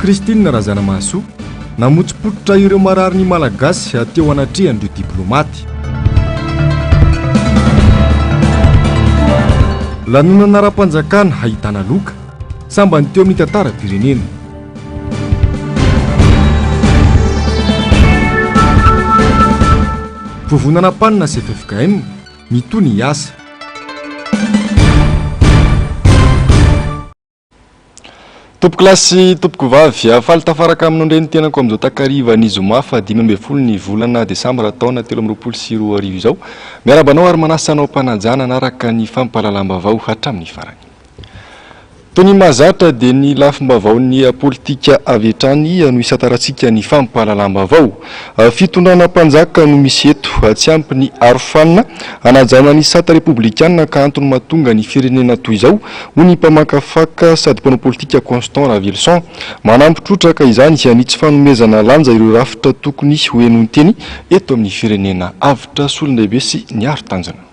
Christine Razanamahasoa, namotsipototra ireo marary ny Malagasy teo anatrehan'ireo diplomaty. Lanonana ara-panjakana hahitana loka, sambany teo amin'ny tantaram-pirenena. Vovonana am-panina sy FFKM. Mitohy ny asa. Tompoko lahy sy tompoko vavy, faly tafaraka amin'ny nondrenin-tenako amin'izao takarivan'ny zoma fahadimy ambin'ny folo ny volana desambra taona telo amby roapolo sy roa arivo izao. Miarahaba anao ary manasa anao am-panajana hanaraka ny fampahalalam-baovao hatramin'ny farany. Toy ny mahazatra dia ny lafim-baovaon'ny politika avy hatrany no isantarantsika ny fampahalalam-baovao. Fitondrana mpanjaka no misy eto. Tsy ampy ny arofanina hanajanona ny sata repoblikana ka antony mahatonga ny firenena toy izao, hoy ny mpamakafaka sady mpanao politika Constant Raveloson. Manampy trotraka izany ny tsy fanomezana lanja ireo rafitra tokony ho henoin-teny eto amin'ny firenena. Avotra solondehibe sy niaro tanjona.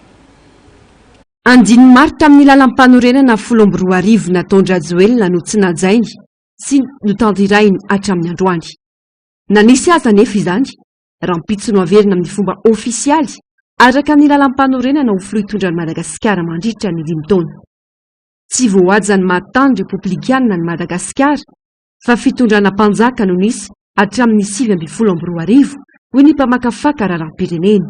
Andininy maro tamin'ny lalampanorenana folo amby roa arivo nataon-dRajoelina no tsy najainy sy notanterahiny hatramin'ny androany. Na nisy aza anefa izany, rahampitso no haverina amin'ny fomba ofisialy araka ny lalampanorenana ho filoha hitondran'i Madagasikara mandritra ny dimy taona. Tsy voahaja ny maha tany repoblikanina an'i Madagasikara fa fitondrana mpanjaka no nisy hatramin'ny sivy ambin'ny folo amby roa arivo, hoy ny mpamakafaka raharaham-pirenena.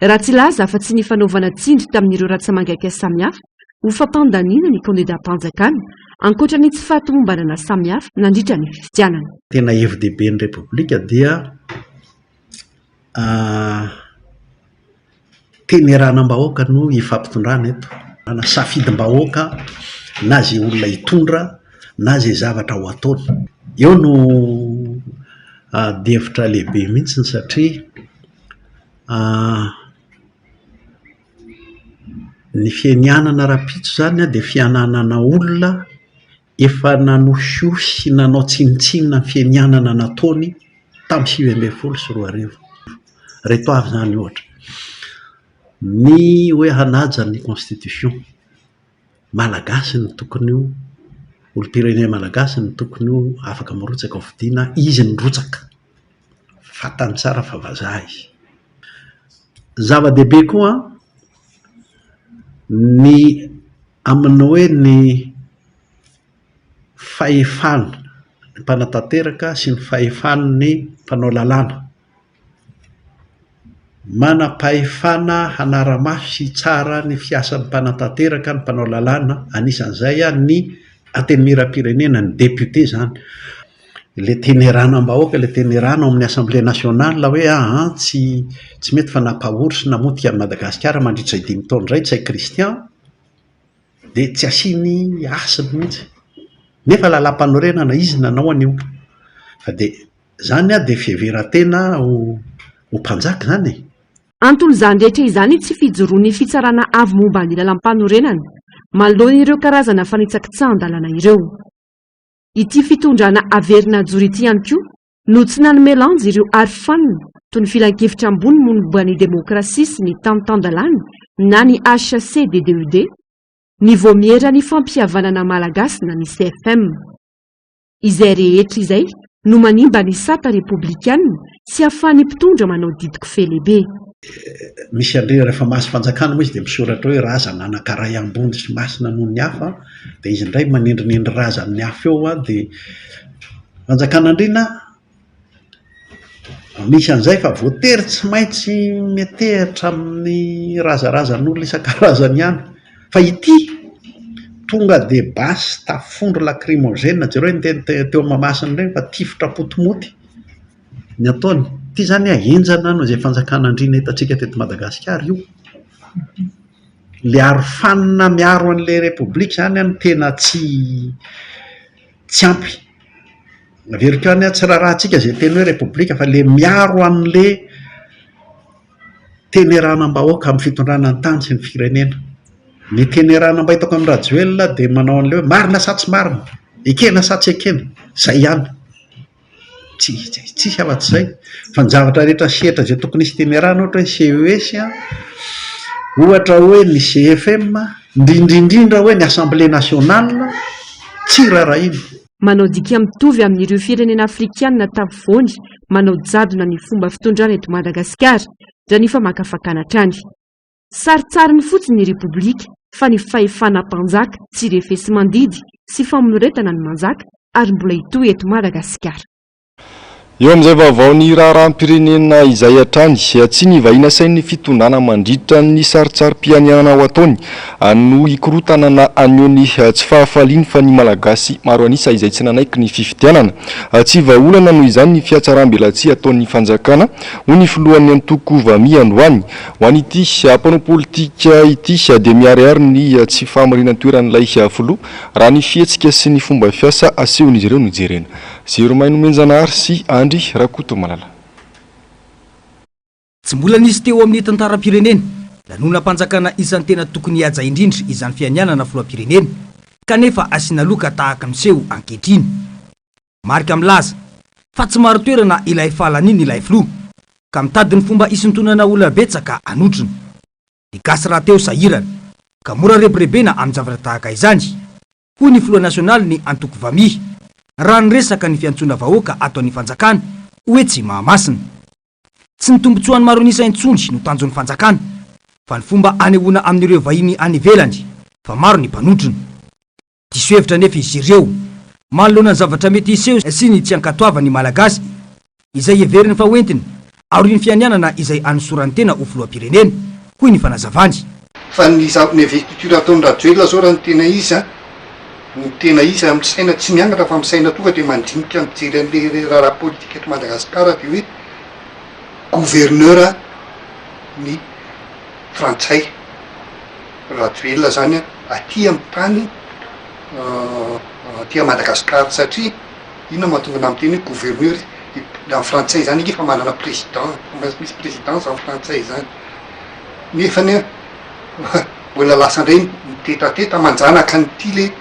Raha tsy hilaza afa-tsy ny fanaovana tsindry tamin'ireo ratsa-mangaika samihafa ho fampandaniana ny kandidam-panjakana, ankoatra ny tsy fahatomombanana samihafa nandritra ny fifidianana. Tena hevi-dehibe ny Repoblika dia teny eranam-bahoaka no hifampitondrana eto. Na safidim-bahoaka, na izay olona hitondra, na izay zavatra ho ataony. Eo no adihevitra lehibe mihitsy satria. Ny fianianana rahampitso izany an, dia fiananana olona efa nanohinohy sy nanao tsinontsinona ny fianianana nataony tamin'ny sivy ambin'ny folo sy roa arivo. Ireto avy izany ohatra, ny hoe hanaja ny constitution malagasy no tokony ho, olom-pirenena malagasy no tokony ho afaka mirotsaka ao fidina, izy no mirotsaka. fantany tsara fa vazaha izy. Zava-dehibe koa ny amin'ny hoe ny fahefan'ny mpanatanteraka sy ny fahefan'ny mpanao lalàna. Manam-pahefana hanara-mafy sy hitsara ny fiasan'ny mpanatanteraka ny mpanao lalàna, anisan'izay ny Antenimierampirenena, ny député izany. Ilay teneranam-bahoaka, ilay tenerana ao amin'ny Assemblée nationale hoe ahaa tsy tsy mety fa nampahory sy namotika an'i Madagasikara mandritra izay dimy taona izay Ntsay Christian dia tsy asiany hasiny mihitsy. Nefa lalàmpanorenana izy nanao an'io. Fa dia Izany an, dia fiheveran-tena ho ho mpanjaka izany e! Antol'izany rehetra izany ny tsy fijoroan'ny Fitsarana Avo momba ny Lalampanorenana manoloana ireo karazana fanitsakitsahan-dalàna ireo. Ity fitondrana haverina hajoro ity ihany koa no tsy nanome lanja ireo arofanina toy ny Filankevitra Ambony momba ny Demokrasia sy ny Tany Tan-dalàna na ny HCDDUD, ny Vaomieran'ny Fampihavanana Malagasy na ny CFM. Izay rehetra izay no manimba ny sata repoblikana tsy ahafahan'ny mpitondra manao didiko felehibe. Misy an'ireny rehefa mahazo fanjakana moa izy dia misoratra hoe razana anankaray ambony sy masina noho ny hafa dia izy indray manendrinendry razan'ny hafa eo dia fanjakan'andriana Anisan'izay fa voatery tsy maintsy metehatra amin'ny razarazan'olona isan-karazany ihany fa ity tonga dia basy tafondro lakrimozena, jereo ny teny teo Mahamasina ireny fa tifitra potimoty ny ataony, ity izany an henjana noho izay fanjakana andriana hitantsika teto Madagasikara io, ilay arofanina miaro an'ilay repoblika izany an no tena tsy tsy ampy. Averiko ihany an, tsy raharahantsika izay teny hoe repoblika fa ilay miaro an'ilay teneranam-bahoaka amin'ny fitondrana ny tany sy ny firenena. Ny tenerana mba hitako amin'i Rajoelina dia manao an'ilay hoe marina sa tsy marina, ekena sa tsy ekena, izay ihany. Tsia, tsia afa-tsy izay fa ny zavatra rehetra sehatra izay tokony hisy temerana ohatra hoe CES a, ohatra hoe ny CFM, indrindra indrindra hoe ny Assemblée nationale, tsy rarahiana. Manao dika mitovy amin'ireo firenena afrikana tapovoany manao jadona ny fomba fitondrana eto Madagasikara, ndra ny famakafakana hatrany. Sarintsariny fotsiny ny Repoblika fa ny fahefana mpanjaka tsy refesi-mandidy sy famonoretana no manjaka ary mbola hitohy eto Madagasikara. Eo amin'izay vaovao ny raharaham-pirenena izay hatrany tsy nivahiny asain'ny fitondrana mandritra ny sarintsarim-pianianana ho ataony no hikorontana na haneho ny tsy fahafaliany fa ny Malagasy maro an'isa izay tsy nanaiky ny fifidianana. Tsy vahaolana noho izany ny fihatsarambelatsihy ataon'ny fanjakana, hoy ny filohan'ny antoko Vamia androany, Ho an'ity mpanao politika ity dia miharihary ny tsy fahamarinan-toeran'ilay filoha raha ny fihetsika sy ny fomba fiasa asehon'izy ireo no jerena. Zero may nomenjanahary sy Andry Rakotomalala. Tsy mbola nisy teo amin'ny tantaram-pirenena, lanonam-panjakana isan'ny tena tokony hihaja indrindra izany fianianana filoham-pirenena, kanefa asiana loka tahaka ny miseho ankehitriny. Marika milaza fa tsy marin-toerana ilay fahalaniany ilay filoha ka mitady ny fomba hisintonana olona betsaka hanotrona. Ny gasy rahateo sahirana ka mora rebirebena amin-javatra tahaka izany, hoy ny filoha nasionalin'ny antoko Vamiha, raha niresaka ny fiantsoana vahoaka ataon'ny fanjakana ho etsy Mahamasina. Tsy ny tombontsoany maro an'isa intsony no tanjon'ny fanjakana fa ny fomba hanehoana amin'ireo vahiny any ivelany fa maro ny mpanotrona. Diso hevitra anefa izy ireo manoloana ny zavatra mety hiseho sy ny tsy ankatoavan' ny Malagasy izay heveriny fa hoentiny aorian'ny fianianana izay hanosorany tena ho filoham-pirenena, hoy ny fanazavany. Fa ny zava ny vy culture ataon'i Rajoelina zao raha ny tena izy an, ny tena izy raha misaina tsy miangatra fa misaina tonga dia mandinika mijery an'ilay raharaha politika eto Madagasikara dia hoe gouverneur ny frantsay. Rajoelina zany an aty am tany aty Madagascar satria inona no mahatonga anao miteny hoe gouverneur am frantsay zany ange efa manana president efa misy presidence am frantsay zany nefany an mbola lasa ndray mitetateta manjanaka an'ity le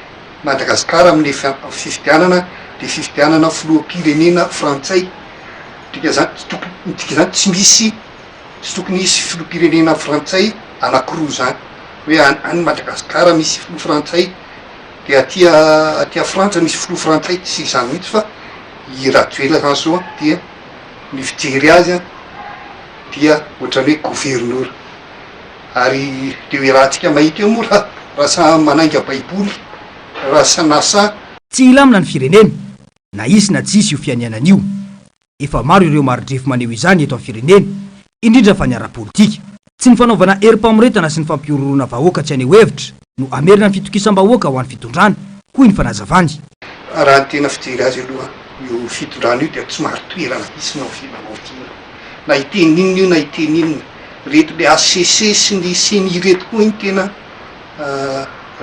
Madagascar am le fifidianana de fifidianana filoham pirenena frantsay dika zany tsy tokony dika zany tsy misy Tsy tokony hisy filoham-pirenena frantsay anankiroa izany, hoe any Madagasikara misy filoha frantsay dia aty aty frantsa misy filoha frantsay, tsy izany mihitsy fa i Rajoelina Hanso dia ny fijery azy an dia ohatran'ny hoe governora ary dia eo iarahantsika mahita eo moa raha samy manainga baiboly raha sanasa. Tsy hilamina ny firenena na hisy na tsy hisy io fianianana io. Efa maro ireo mari-drefy maneho izany eto amin'ny firenena, indrindra fa ny ara-politika. Tsy ny fanaovana herim-pamoretana sy ny fampihorohoroana vahoaka tsy haneho hevitra no hamerina ny fitokisam-bahoaka ho an'ny fitondrana, hoy ny fanazavany. Raha ny tena fijery azy aloha, io fitondrana io dia tsy marin-toerana hisy maovilamaovilana na hiteny inona io na hiteny inona. Ireto le HCC sy ny ceni ireto koa iny tena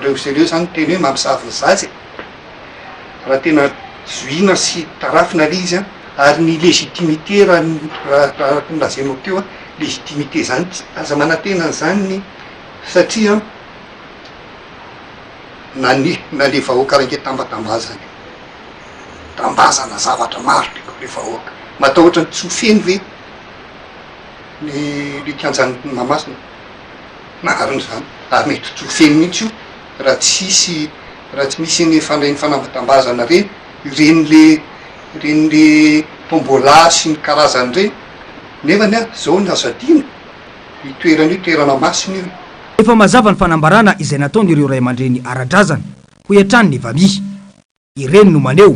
reo sy reo izany no tena hoe mamosavy ny zaza e! raha tena zohiana sy tarafina ilay izy an, ary ny légitimité raha ny raha ny lazainao teo an, légitimité izany tsy aza manantena an'izany ny satria an, na ny na ilay vahoaka raiketam-batambazana io tambazana zavatra maro be koa ilay vahoaka, matahotra ny tsy ho feno ve ny ilay kianjan'i Mahamasina? Marina izany, ary mety tsy ho feno mihitsy io raha tsy hisy Raha tsy misy iny fandray ny fanambotambazana re, ireny le ireny le tombola sy ny karazany ireny, nefany an, zao ny azo adino, io toerana io toerana masina io. Efa mazava ny fanambarana izay nataon'ireo ray aman-dreny ara-drazana, hoy hatrany ny valiha. Ireny no maneho,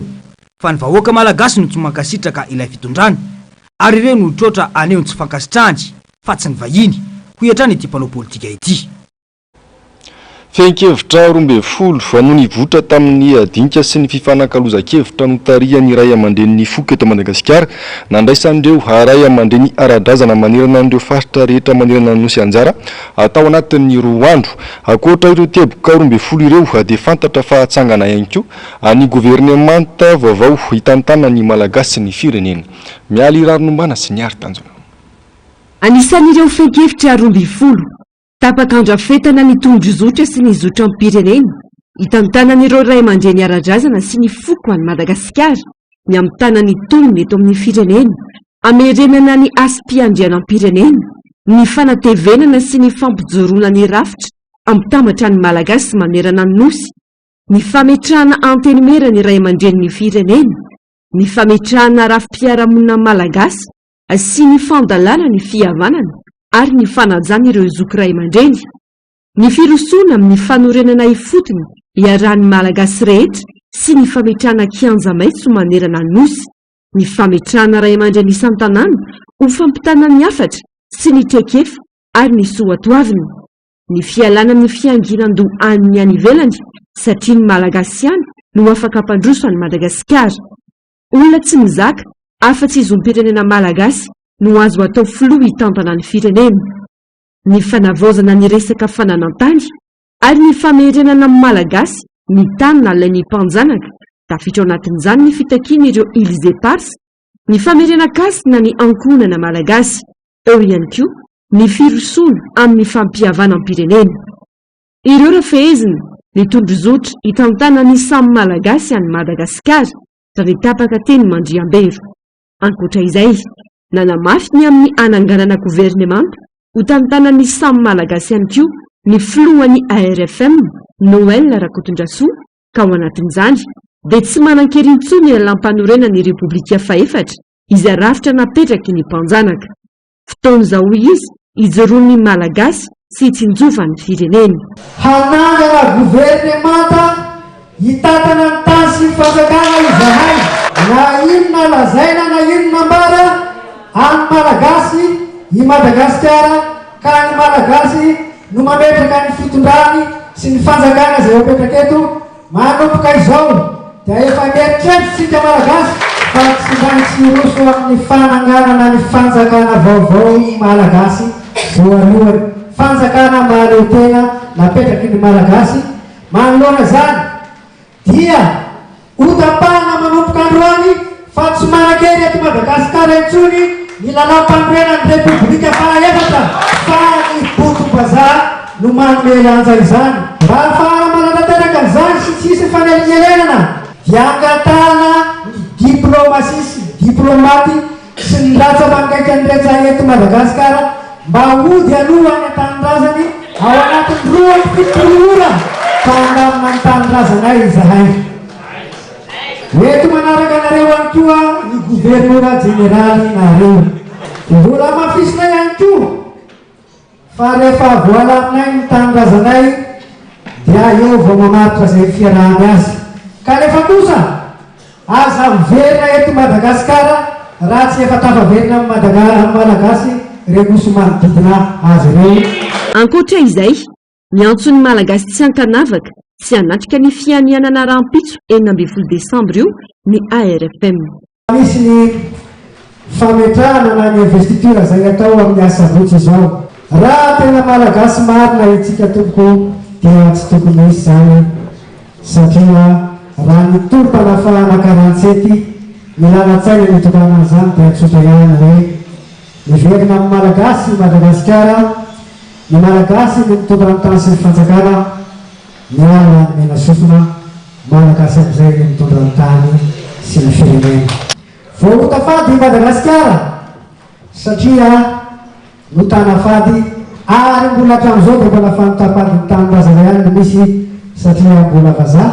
fa ny vahoaka malagasy no tsy mankasitraka ilay fitondrana, ary ireo no trotra haneho ny tsy fankasitrahany, fa tsy ny vahiny, hoy hatrany ity mpanao politika ity. Fehin-kevitra roa ambin'ny folo, Vao nivoitra tamin'ny adinika sy ny fifanakalozan-kevitra notarihan'ny ray aman-drenin'ny foko eto Madagasikara, nandraisan'ireo ray aman-dreny ara-drazana manerana an'ireo faritra rehetra manerana ny Nosy anjara atao anatin'ny roa andro. Ankoatra ireo teboka roa ambin'ny folo ireo dia fantatra fa hatsangana ihany koa ny governemanta vaovao hitantana ny Malagasy sy ny firenena. Mialy Raharinombana sy Niary Tanjona. Anisan'ireo fehin-kevitra roa ambin'ny folo. Tapaka handrafetana ny tondrozotra sy ny zotram-pirenena hitantanan'ireo ray aman-dreny ara-drazana sy ny foko an'i Madagasikara ny hamitana ny tolony eto amin'ny firenena, hamerenana ny hasim-piandrianam-pirenena, ny fanatevenana sy ny fampijoroana ny rafitra hampitambatra ny Malagasy manerana ny Nosy, ny fametrahana Antenimiera ny ray aman-drenin'ny firenena, ny fametrahana rafi-piarahamonina malagasy sy ny fandalana ny fihavanana ary ny fanajana ireo zoky ray aman-dreny, ny firosoana amin'ny fanorenana ifotony iarahan'ny Malagasy rehetra sy ny fametrahana kianja maitso manerana ny Nosy, ny fametrahana ray aman-dreny isan-tanàna ho fampitana ny hafatra sy ny traikefa ary ny soatoavina, ny fialana amin'ny fianginan-doha an'ny any ivelany satria ny Malagasy ihany no afaka hampandroso an'i Madagasikara. Olona tsy mizaka afa-tsy zom-pirenena malagasy no azo atao filoha hitantana ny firenena. Ny fanavaozana ny resaka fananan-tany ary ny famerenana amin'ny Malagasy ny tany nalain'ny mpanjanaka, tafiditra ao anatin'izany ny fitakian'ireo Îles Éparses ny famerenan-kasina ny ankohonana malagasy, eo ihany koa ny firosoana amin'ny fampihavanam-pirenena. Ireo rafehezina, ny tondrozotra hitantana ny samy Malagasy an'i Madagasikara raha ny tapaka teny Mandriambero. Ankoatra izay, nanamafy ny amin'ny hananganana governemanta hotantanan'ny samy Malagasy ihany koa ny filohan'ny ARFM, Noël Rakotondrasoa, ka ao anatin'izany dia tsy manan-kery intsony ny Lalàmpanorenan'ny Repoblika fahefatra izay rafitra napetraky ny mpanjanaka. Fotoan'izao hoy izy ijoroan'ny Malagasy sy hitsinjova ny fireneny. Hanangana governemanta hitantana ny tany sy ny fanjakana izahay. Na inona lazaina na inona ambara, an'ny Malagasy i Madagasikara ka ny Malagasy no mametraka ny fitondrany sy ny fanjakana izay apetraka eto, Manomboka izao dia efa mieritreritra isika Malagasy fa tsy maintsy hiroso amin'ny fananganana ny fanjakana vaovao ny Malagasy voalohany, fanjakana mahaleo tena napetraky ny Malagasy, manoloana izany dia hotapahina manomboka androany Fa tsy manan-kery eto Madagasikara intsony ny Lalàmpanorenan'ny Repoblika fahaefatra fa ny bokim-bazaha no manome lanja izany. Mba hahafahana manantanteraka an'izany sy tsy hisy fanelingelenana dia angatahana ny diplaomasia sy ny diplaomaty sy ny latsa-pangaikan'ny reca eto Madagasikara mba hody aloha any an-tanindrazany ao anatin'ny roa amby fitopolo ora fa handamina ny tanindrazanay izahay. Eto manaraka anareo ihany koa ny Governora Jeneraly Nahary. Mbola hamafisinay ihany koa fa rehefa voalaminay ny tanindrazanay dia eo vao mamaritra izay fiarahany azy. Kanefa kosa aza miverina eto Madagasikara raha tsy efa tafaverina amin'ny Malagasy ireo nosy manodidina azy ireo. Ankoatra izay, Miantso ny Malagasy tsy ankanavaka sy hanatrika ny fianianana rahampitso enina ambin'ny folo desambra io ny ARFM. Misy ny fametrahana na ny investiture izay atao amin'ny asabotsy izao. Raha tena Malagasy marina itsika tompoko dia tsy tokony hisy izany satria raha ny tolom-panafahana karantsety milanan-tsaina nitondràna an'izany dia tsotra ihany hoe miverina amin'ny Malagasy i Madagasikara, Ny Malagasy no mitondra ny tany sy ny fanjakana, ny ala no mena sofina, Malagasy amin'izay no mitondra ny tany sy ny firenena. Voaota fady i Madagasikara satria notana fady ary mbola hatramin'izao dia mbola fanota fady ny tanin-drazana ihany no misy satria mbola vazaha,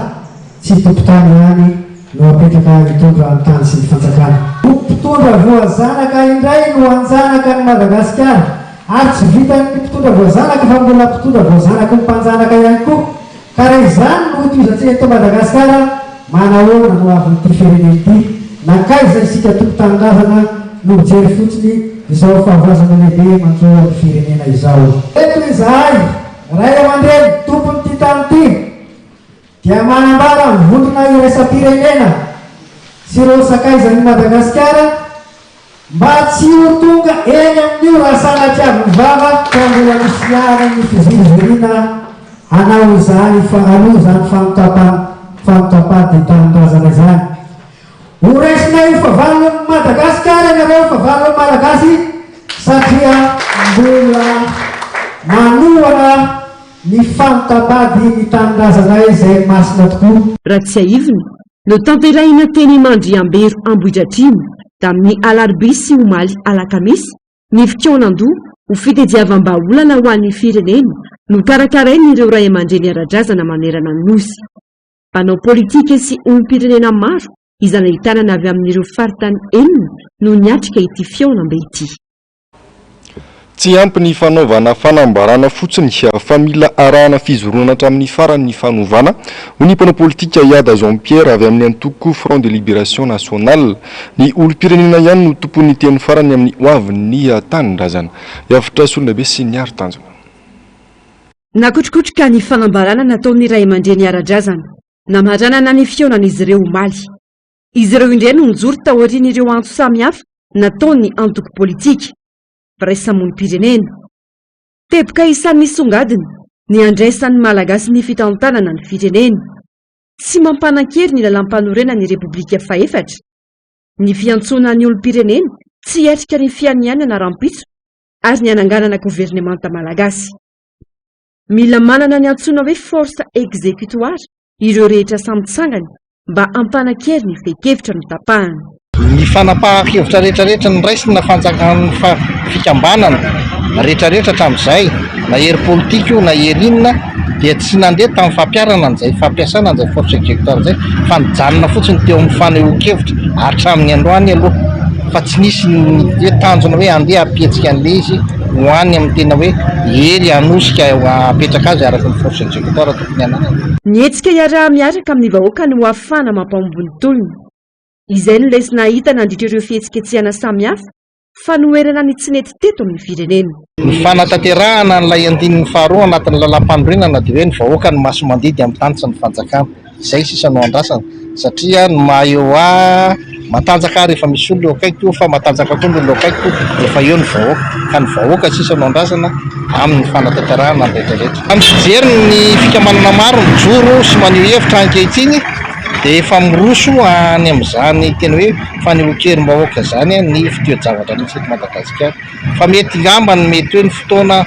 Tsy tompon-tany ihany no apetraka hitondra ny tany sy ny fanjakana. Ho mpitondra voazanaka indray no hanjanaka an'i Madagasikara. Ary tsy vitan'ny mpitondra voazanaka fa mbola mpitondra voazanaky ny mpanjanaka ihany koa. Ka raha izany no hotohizantsika eto Madagasikara, manahoana no havin'ity firenena ity? Nankaiza isika tompon-tanindrazana no mijery fotsiny izao fahavoazana lehibe manjo an'ny firenena izao? Eto izahay, ray aman-dreny, tompon'ity tany ity. dia manambara ny vondrona iraisam-pirenena sy ireo sakaizan'i Madagasikara mba tsy ho tonga eny amin'io raha sanatria avy vava ka mbola misy ihany ny fiziriziriana hanao izany faharoa izany fanotapam-panotapaty tanindrazana izany. Horaisinay ho favalon'i Madagasikara ianareo, favalon'ny Malagasy satria mbola manohana Ny fanta-bady ny tanindrazanay izay masina tokoa. Raha tsiahivina, notanterahina teny Mandriambero Ambohidratrimo, tamin'ny alarobia sy omaly alakamisy, ny fikaonandoha ho fitediavam-bahaolana ho an'ny firenena nokarakarain'ireo ray aman-dreny ara-drazana manerana ny Nosy. Mpanao politika sy olom-pirenena maro izay nahitanana avy amin'ireo faritany enina no niatrika ity fihaonambe ity. Tsy ampy ny fanaovana fanambarana fotsiny fa mila arahana fizoroana hatramin'ny farany ny fanovana, hoy ny mpanao politika Yada Jean Pierre avy amin'ny antoko Front de Liberation Nationale. Ny olom-pirenena ihany no tompon'ny teny farany amin'ny hoavin'ny tanindrazana. Hiavotra solonabe sy miaro tanjona. Nakotrokotroka ny fanambarana nataon'ny ray aman-dreny ara-drazana namaranana ny fihaonan'izy ireo omaly. Izy ireo indray no nijoro taorian'ireo antso samihafa nataon'ny antoko politika, mpiraisa-monim-pirenena. Teboka isan'ny nisongadina ny handraisan'ny Malagasy ny fitantanana ny fireneny. Tsy mampanan-kery ny Lalàmpanorenan'ny Repoblika fahefatra. Ny fiantsoana ny olom-pirenena tsy hiatrika ny fianianana rahampitso ary ny hananganana governemanta malagasy. Mila manana ny antsoina hoe force exécutoire ireo rehetra samy tsangany mba hampanan-kery ny fehin-kevitra notapahany. Ny fanapahan-kevitra rehetrarehetra noraisinna fanjakan'ny fikambanana rehetrarehetra hatramin'izay, na hery politika io na hery inona, dia tsy nandeha tamin'ny fampiharana an'izay fampiasana an'izay force exécutoire izay fa nijanona fotsiny teo amin'ny fanehoan-kevitra hatramin'ny androany aloha fa tsy nisy ny hoe tanjona hoe andeha hampihetsika an'ilay izy. ho any amin'ny tena hoe hery hanosika hapetraka azy araka ny force executoire tokony hananany. Ny hetsika iaraha-miaraka amin'ny vahoaka no hahafahana mampahomby ny tolona. Izay no lesona hahita nandritra ireo fihetsiketsehana samihafa fanoherana ny tsy nety teto amin'ny firenena. Ny fanatanterahana an'ilay andininy faharoa anatin'ny lalàmpanorenana dia hoe ny vahoaka no masomandidy amin'ny tany sy ny fanjakana. izay sisa no andrasana satria ny maha eo ahy matanjaka ahy rehefa misy olona eo akaikiko fa matanjaka koa ny olona eo akaikiko rehefa eo ny vahoaka ka ny vahoaka sisa no andrasana amin'ny fanatanterahana ny rehetra rehetra. Raha ny fijery ny fikamanana maro mijoro sy maneho hevitra ankehitriny dia efa miroso any amin'izany tena hoe fanehoan-kerim-bahoaka izany ny fitoe-javatra misy eto Madagasikara. Fa mety ngamba ny mety hoe ny fotoana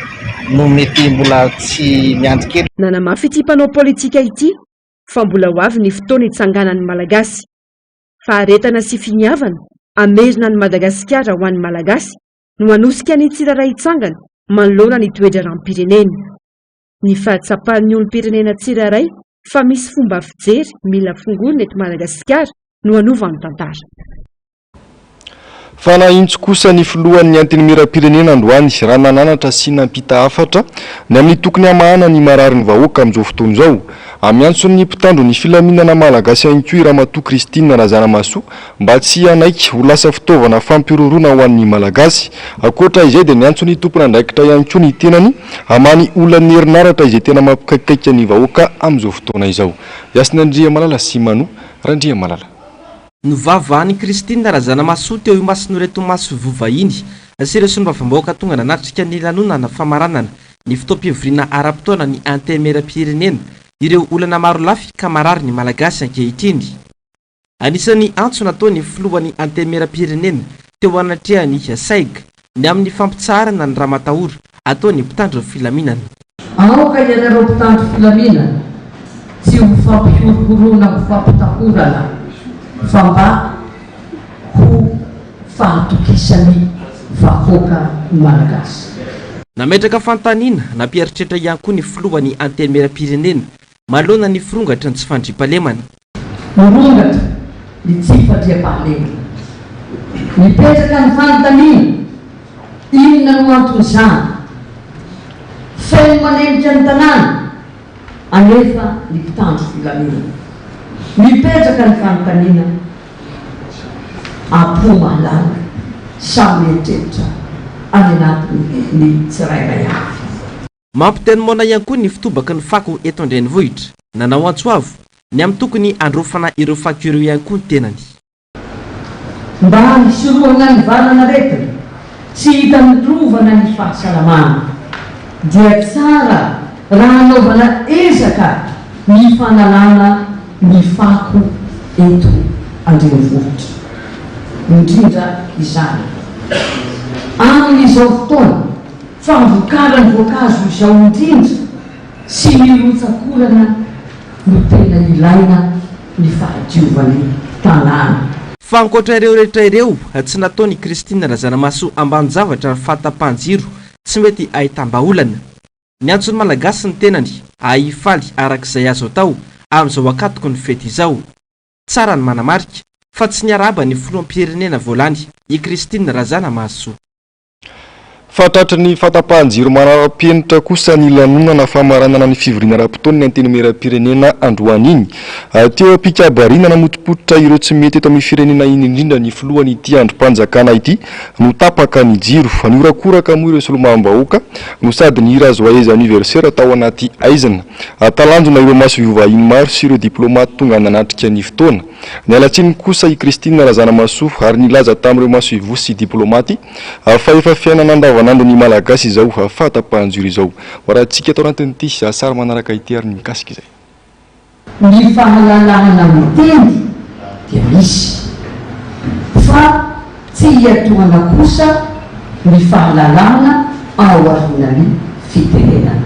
no mety mbola tsy miandry kely. Nanamafy ity mpanao politika ity fa mbola ho avy ny fotoana hitsanganan'ny Malagasy. Faharetana sy finiavana hamerina an'i Madagasikara ho an'ny Malagasy no hanosika ny tsirairay hitsangana manoloana ny toe-draharaham-pirenena. Ny fahatsapan'ny olom-pirenena tsirairay fa misy fomba fijery mila fongoina eto Madagasikara no hanova ny tantara. Fa nahintso kosa ny filohan'ny Antenimierampirenena androany raha nananatra sy nampita hafatra ny amin'ny tokony hamahana ny mararin'ny vahoaka amin'izao fotoana izao. Amiantson'ny mpitandro ny filaminana Malagasy ihany koa i Ramatoa Christine Razanamahasoa Mba tsy hanaiky ho lasa fitaovana fampihorohoroana ho an'ny Malagasy. Ankoatra izay dia niantso ny tompon'andraikitra ihany koa ny tenany hamaly olan'ny herinaratra izay tena mampikaikaika ny vahoaka amin'izao fotoana izao. Yasinandriamalala sy Manu Randriamalala. Novavahan'i Christine Razanamahasoa teo imason'ireto masoivoho vahiny sy ireo solombavambahoaka tonga nanatrika ny lanonana famaranana ny fotoam-pivoriana ara-potoana ny Antenimierampirenena ireo olana marolafy ka marary ny Malagasy ankehitriny. Anisan'ny antso nataon'ny filohan'ny Antenimierampirenena teo anatrehan'ny SAIG ny amin'ny fampitsaharana ny ramatahora ataon'ny mpitandro ny filaminana. Aoka ianareo mpitandro filaminana tsy ho fampihorohoroana ho fampitahorana fa mba ho fahatokisan'ny vahoaka Malagasy. Nametraka fanontaniana nampieritreritra ihany koa ny filohan'ny Antenimierampirenena Maloana ny firongatry ny tsy fandriampahalemana. Mirongatra ny tsy fandriampahalemana. Mipetraka ny fanontaniana, inona no anton'izany? Feno manenika ny tanàna anefa ny mpitandro filaminana. Mipetraka ny fanontaniana, am-po mahalala, samy mieritreritra any anatiny ny tsirairay avy. Mampitenomona ihany koa ny fitobaky ny fako eto an-drenivohitra. Nanao antso avo ny amin'ny tokony handraofana ireo fako ireo ihany koa ny tenany. Mba hisorohana ny valan'aretina tsy hitan'ny rova na ny fahasalamana dia tsara raha hanaovana ezaka ny fanalana ny fako eto an-drenivohitra, indrindra izany amin'izao fotoana. Fanvokarany voankazo izao indrindra sy ny rotsak'orana no tena ilaina ny fahadiovan'ny tanàna. Fa ankoatra ireo rehetra ireo, tsy nataon' i Christine Razanamahasoa ambanin-javatra ny fahatapahan-jiro tsy mety ahitam-bahaolana. Niantso ny Malagasy ny tenany ahy hifaly araka izay azo atao amin'izao ankatoky ny fety izao. Tsara ny manamarika fa tsy niarahaba ny Filoham-pirenena vao lany i Christine Razanamahasoa. Fa tratry ny fahatapahan-jiro manara-penitra kosa ny lanonana famaranana ny fivoriana ara-potoan'ny Antenimierampirenena androany iny. Teo am-pikabariana namotopototra ireo tsy mety eto amin'ny firenena iny indrindra ny filohan'ity andrim-panjakana ity no tapaka ny jiro. Nihorakoraka moa ireo solombavambahoaka no sady nihira Joyeux Anniversaire tao anaty haizina. Talanjona ireo masoivoho vahiny maro sy ireo diplaomaty tonga nanatrika ny fotoana. Niala tsiny kosa i Christine Razanamahasoa ary nilaza tamin'ireo masoivoho sy diplaomaty fa efa fiainana andavanandron'ny Malagasy izao fahatapahan-jiro izao. Hoarahantsika ato anatin'ity sary manaraka ity ary ny mikasika izay. Ny fahalalahana miteny dia misy fa. Tsy hiantohana kosa ny fahalalahana ao aorian'ny fitenenana.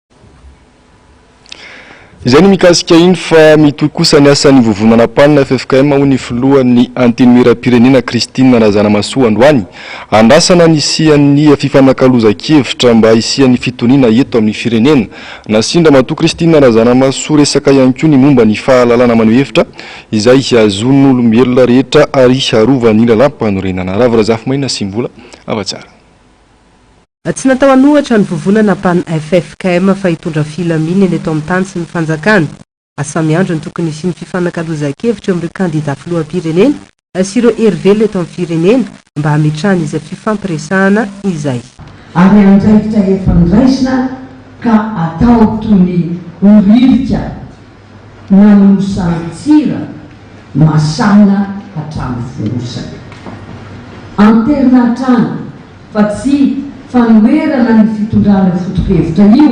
Izay no mikasika iny fa mitohy kosa ny asan'ny Vovonana Mpanina, ffkm, hoy ny filohan'ny Antenimierampirenena Christine Razanamasoa androany. Andrasana ny hisian'ny fifanakalozan-kevitra mba hisian'ny fitoniana eto amin'ny firenena. Nasian-dRamatoa Christine Razanamasoa resaka ihany koa ny momba ny fahalalana maneho hevitra izay azon'olombelona rehetra ary arovan'ny lalàmpanorenana. Ravo Razafimaina sy Mbola Hava Tsara. Tsy natao an'ohatra ny vovonana pan ffkm fa hitondra filaminana eto amin'ny tany sy ny fanjakana. Asa miandry ny tokony hisian'ny fifanakalozan-kevitra eo amin'ireo kandida filoham-pirenena sy ireo hery velona eto amin'ny firenena mba hametrahana izay fifampiresahana izay. Ary andraikitra efa noraisina ka atao toy ny horirika. Nanompo sarin-tsira masàna hatramin'ny fonosana. Anterina hatrany fa tsy fanoherana ny fitondrana foto-kevitra io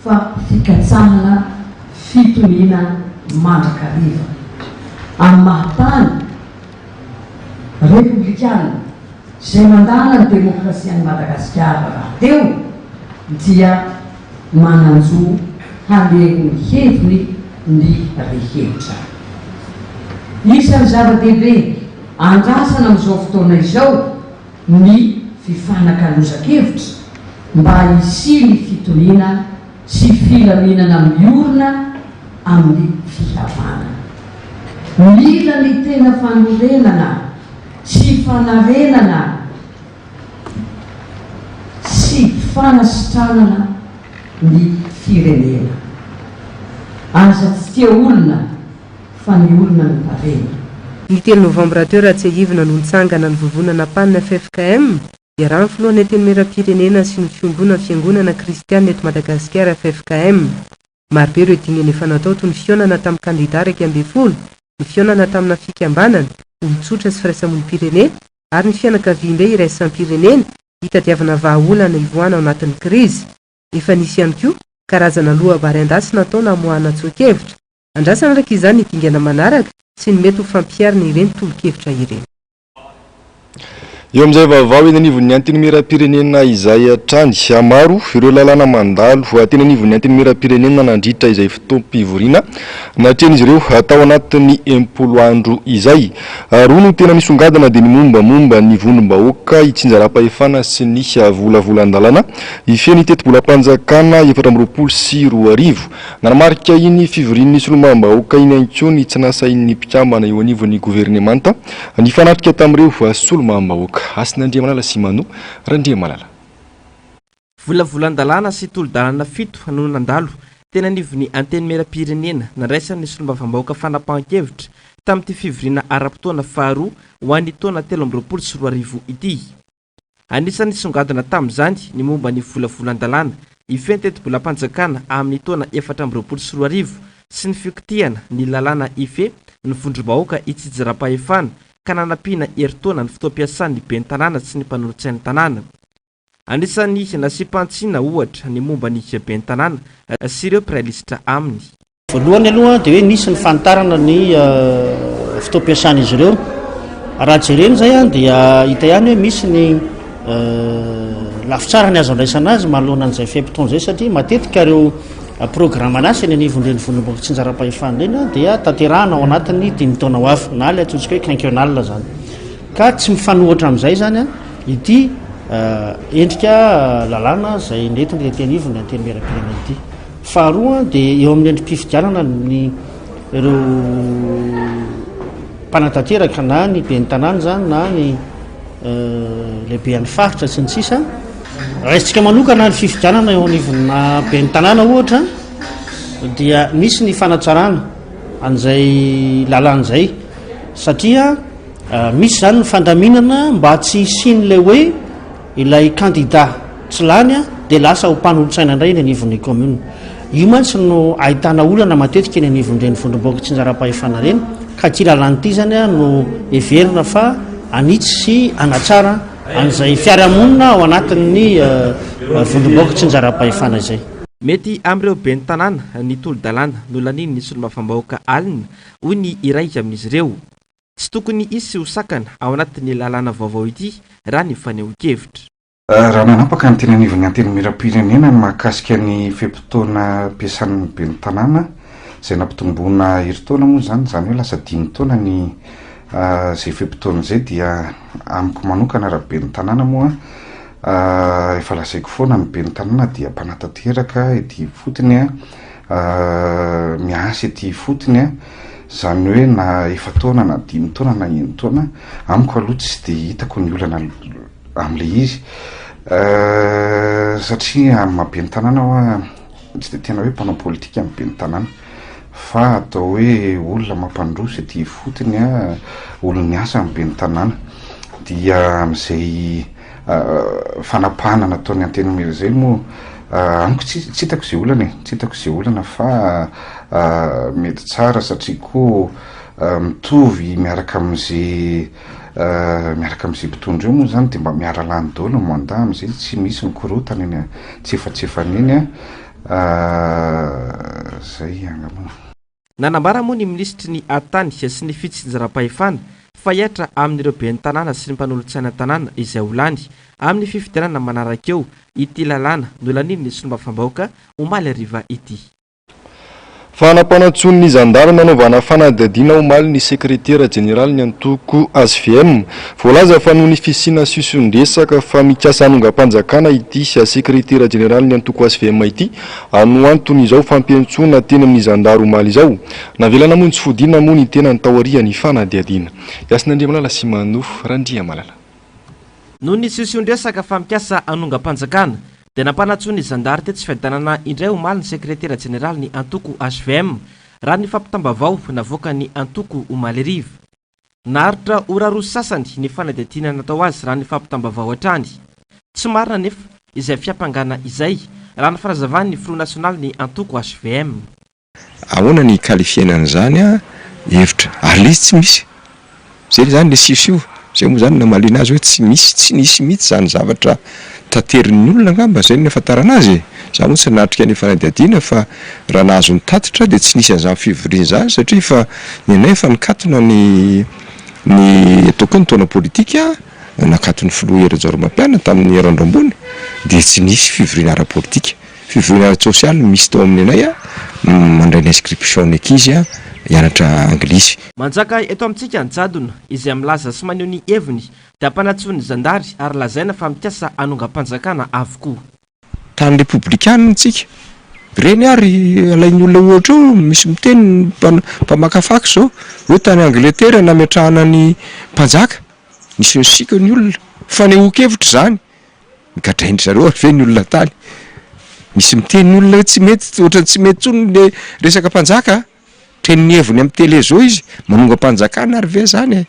fa fikatsahana fitoniana mandrakariva amin'ny maha-tany repoblikana izay mandàna ny demokrasian'i Madagasikara rahateo dia manan-jo haneho ny heviny ny rehetra. Isan'ny zava-dehibe andrasana amin'izao fotoana izao ny fifanakalozan-kevitra mba hisian'ny fitoniana sy filaminana miorina amin'ny fihavanana. Mila ny tena fanorenana sy fanarenana. sy fanasitranana ny firenena. Aza tsy tia olona fa ny olona no tarehina. Ny telo novambra teo raha tsiahivina no nitsangana ny vovonana pan ffkm, iarahan'ny filohan'ny antenimieram-pirenena sy ny fiongonan'ny fiangonana kristianina eto Madagasikara ffkm. Marobe ireo dingan efa natao toy ny fihaonana tamin'ny kandida iraika ambin'ny folo, ny fihaonana tamina fikambanana, olon-tsotra sy firaisamonim-pirenena ary ny fianakaviambe iraisam-pirenena hitadiavana vahaolana hivoahana ao anatin'ny krizy. Efa nisy ihany koa karazana loabary an-dasy natao namoahana tsoa-kevitra. Andrasana araka izany ny dingana manaraka sy ny mety ho fampiharana ireny tolo-kevitra ireny. Eo amin'izay vaovao eny anivon'ny Antenimierampirenena izay hatrany, maro ireo lalàna mandalo teny anivon'ny Antenimierampirenena nandritra izay fotoam-pivoriana natrehan'izy ireo tao anatin'ny enimpolo andro izay. Roa no tena nisongadina dia ny mombamomba ny vondrom-bahoaka hitsinjaram-pahefana sy ny volavolan-dalàna hifehy ny tetibolam-panjakana efatra amby roapolo sy roa arivo. Nanamarika iny fivorian'ny solombavambahoaka iny ihany koa ny tsy nahasahin'ny mpikambana eo anivon'ny governemanta nifanatrika tamin'ireo solombavambahoaka, Hasina Andriamalala sy Manu Randriamalala. Volavolan-dalàna sy tolo-dalana fito no nandalo teny anivon'ny Antenimierampirenena nandraisan'ny solombavambahoaka fanapahan-kevitra tamin'ity fivoriana ara-potoana faharoa ho an'ny taona telo amby roapolo sy roa arivo ity. Anisan'ny nisongadina tamin'izany ny momba ny volavolan-dalàna hifehy ny tetibolam-panjakana amin'ny taona efatra amby roapolo sy roa arivo sy ny fikotihana ny lalàna hifehy ny vondrom-bahoaka hitsijaram-pahefana ka nanampiana herintaona ny fotoam-piasan'ny ben'ny tanàna sy ny mpanolotsain'ny tanàna. Anisan'ny nasiam-pantsina, ohatra, ny momba ny ben'ny tanàna sy ireo mpiray lisitra aminy. Voalohany aloha dia hoe nisy ny fanitarana ny fotoam-piasan'izy ireo. Raha jerena izay dia hita ihany hoe misy ny lafitsara ny azo andraisana azy manoloana an'izay fe-potoana izay satria matetika ireo programme asa eny anivon'ny renivonim-bahoaka tsinjaram-pahefana ireny dia tanterahana ao anatin'ny dimy taona ho avy na ilay atsontsika hoe quinquennal izany. Ka tsy mifanohitra amin'izay izany ity endrika lalàna izay nentin'ny Renianivon'ny Antenimierampirenena ity. Faharoa dia eo amin'ny endri-pifidianana ny ireo mpanatanteraka na ny ben'ny tanàna izany na ny lehibean'ny faritra sy ny sisa. Raisintsika manokana ny fifidianana eo anivon'ny ben'ny tanàna ohatra dia misy ny fanatsarana an'izay lalana izay satria misy izany ny fandaminana mba tsy hisian'ilay hoe Ilay kandida tsy lany dia lasa ho mpanolotsaina indray eny anivon'ny kaominina. Io mantsy no ahitana olana matetika eny anivon'ireny vondrom-bahoaka tsinjaram-pahefana ireny ka ity lalàna ity izany no heverina fa hanitsy sy hanatsara an'izay fiarahamonina ao anatin'ny vondrom-bahoaka tsinjaram-pahefana izay. Mety amin'ireo ben'ny tanàna ny tolo-dalàna nolanian'ny solombavambahoaka alina, hoy ny iray amin'izy ireo. Tsy tokony hisy ho sakana ao anatin'ny lalàna vaovao ity raha ny fanehoan-kevitra. Raha nanapaka ny teny anivon'ny Antenimierampirenena ny mahakasika ny fe-potoana ampiasan'ny ben'ny tanàna izay nampitomboina herintaona moa izany, izany hoe lasa dimy taona ny izay fe-potoana izay dia amiko manokana raha ben'ny tanàna moa efa lazaiko foana ny ben'ny tanàna dia mpanatanteraka ety ifotony, miasa ety ifotony. Izany hoe na efa-taona na dimy taona na enin-taona, amiko aloha tsy dia hitako ny olana amin'ilay izy satria amin'ny maha ben'ny tanàna aho an, tsy dia tena hoe mpanao politika ny ben'ny tanàna fa atao hoe olona mampandroso ety ifotony an, olon'ny asa ny ben'ny tanàna dia amin'izay. fanapahana nataon'ny antenimiera izay moa amiko tsy tsy hitako izay olana e, tsy hitako izay olana fa mety tsara satria koa mitovy miaraka amin'ze miaraka amin'ze mpitondra eo moa zany de mba miara-lany daholo ny mandat am'zay tsy misy mikorotana eny an-tsefatsefany eny an, zay angamba. Nanambara moa ny minisitry ny Tany sy ny fitsinjaram-pahefana fa hiatra amin'ireo ben'ny tanàna sy ny mpanolotsaina an-tanàna izay ho lany amin'ny fifidianana manaraka eo ity lalàna nolanian'ny solombavambahoaka omaly hariva ity. Fanapanantsoin'ny zandary nanaovana fanadihadiana omaly ny sekretera jeneralin'ny antoko hvm. Voalaza fa noho ny fisiana siosion-dresaka fa mikasa hanongam-panjakana ity sekretera jeneralin'ny antoko hvm ity Anoanton'izao fampiantsoana teny amin'ny zandary omaly izao, navela namonjy fodiana moa ny tenany taorian'ny fanadihadiana. Yasinandriamalala sy Manou Randriamalala. Noho ny siosion-dresaka fa mikasa hanongam-panjakana, dia nampanantsoa ny zandary tetsy Fiadanana indray omaly ny sekretera jeneralin'ny antoko hvm, raha ny fampitam-baovao navoakan'ny antoko omaly hariva. Naharitra ora roa sy sasany ny fanadihadiana natao azy raha ny fampitam-baovao hatrany. Tsy marina anefa izay fiampangana izay, raha ny fanazavan'ny filoha nasionalin'ny antoko hvm. Ahoana ny hi-qualifier-na an'izany hevitra ary ilay izy tsy misy? Izay izany ilay siosio, izay moa izany namaliana azy hoe tsy misy, tsy nisy mihitsy izany zavatra. Taterin'ny olona angamba izay no nahafantarana azy e! Za moa tsy nanatrika ny fanadihadiana fa raha nahazo ny tatitra dia tsy nisy an'izany fivoriana izany satria efa ny anay efa nikatona ny ny ataoko hoe ny taona politika nakatony filoha Hery Rajaoromapianina tamin'ny herin'ny andro ambony dia tsy nisy fivoriana ara-politika. Fivoriana ara-tsosialy no misy tao amin'ny anay mandray ny inscription ny ankizy hianatra anglisy. Manjaka eto amintsika ny jadona izay milaza sy maneho ny heviny Dampanantsoin'ny zandary ary lazaina fa mikasa hanongam-panjakana avokoa. Tany repoblikanina tsika. Ireny ary alain'ny olona ohatra eo, misy miteny mpamaka fax izao hoe tany Angletera nametrahana ny mpanjaka, nisy nisiaka ny olona. Fanehoan-kevitra izany, nogadrain-dry zareo ary ve ny olona tany? Misy miteny ny olona hoe tsy mety, ohatran'ny tsy mety intsony ilay resaka mpanjaka a! Teny ny heviny amin'ny tele zao izy manongam-panjakana ary ve zany e?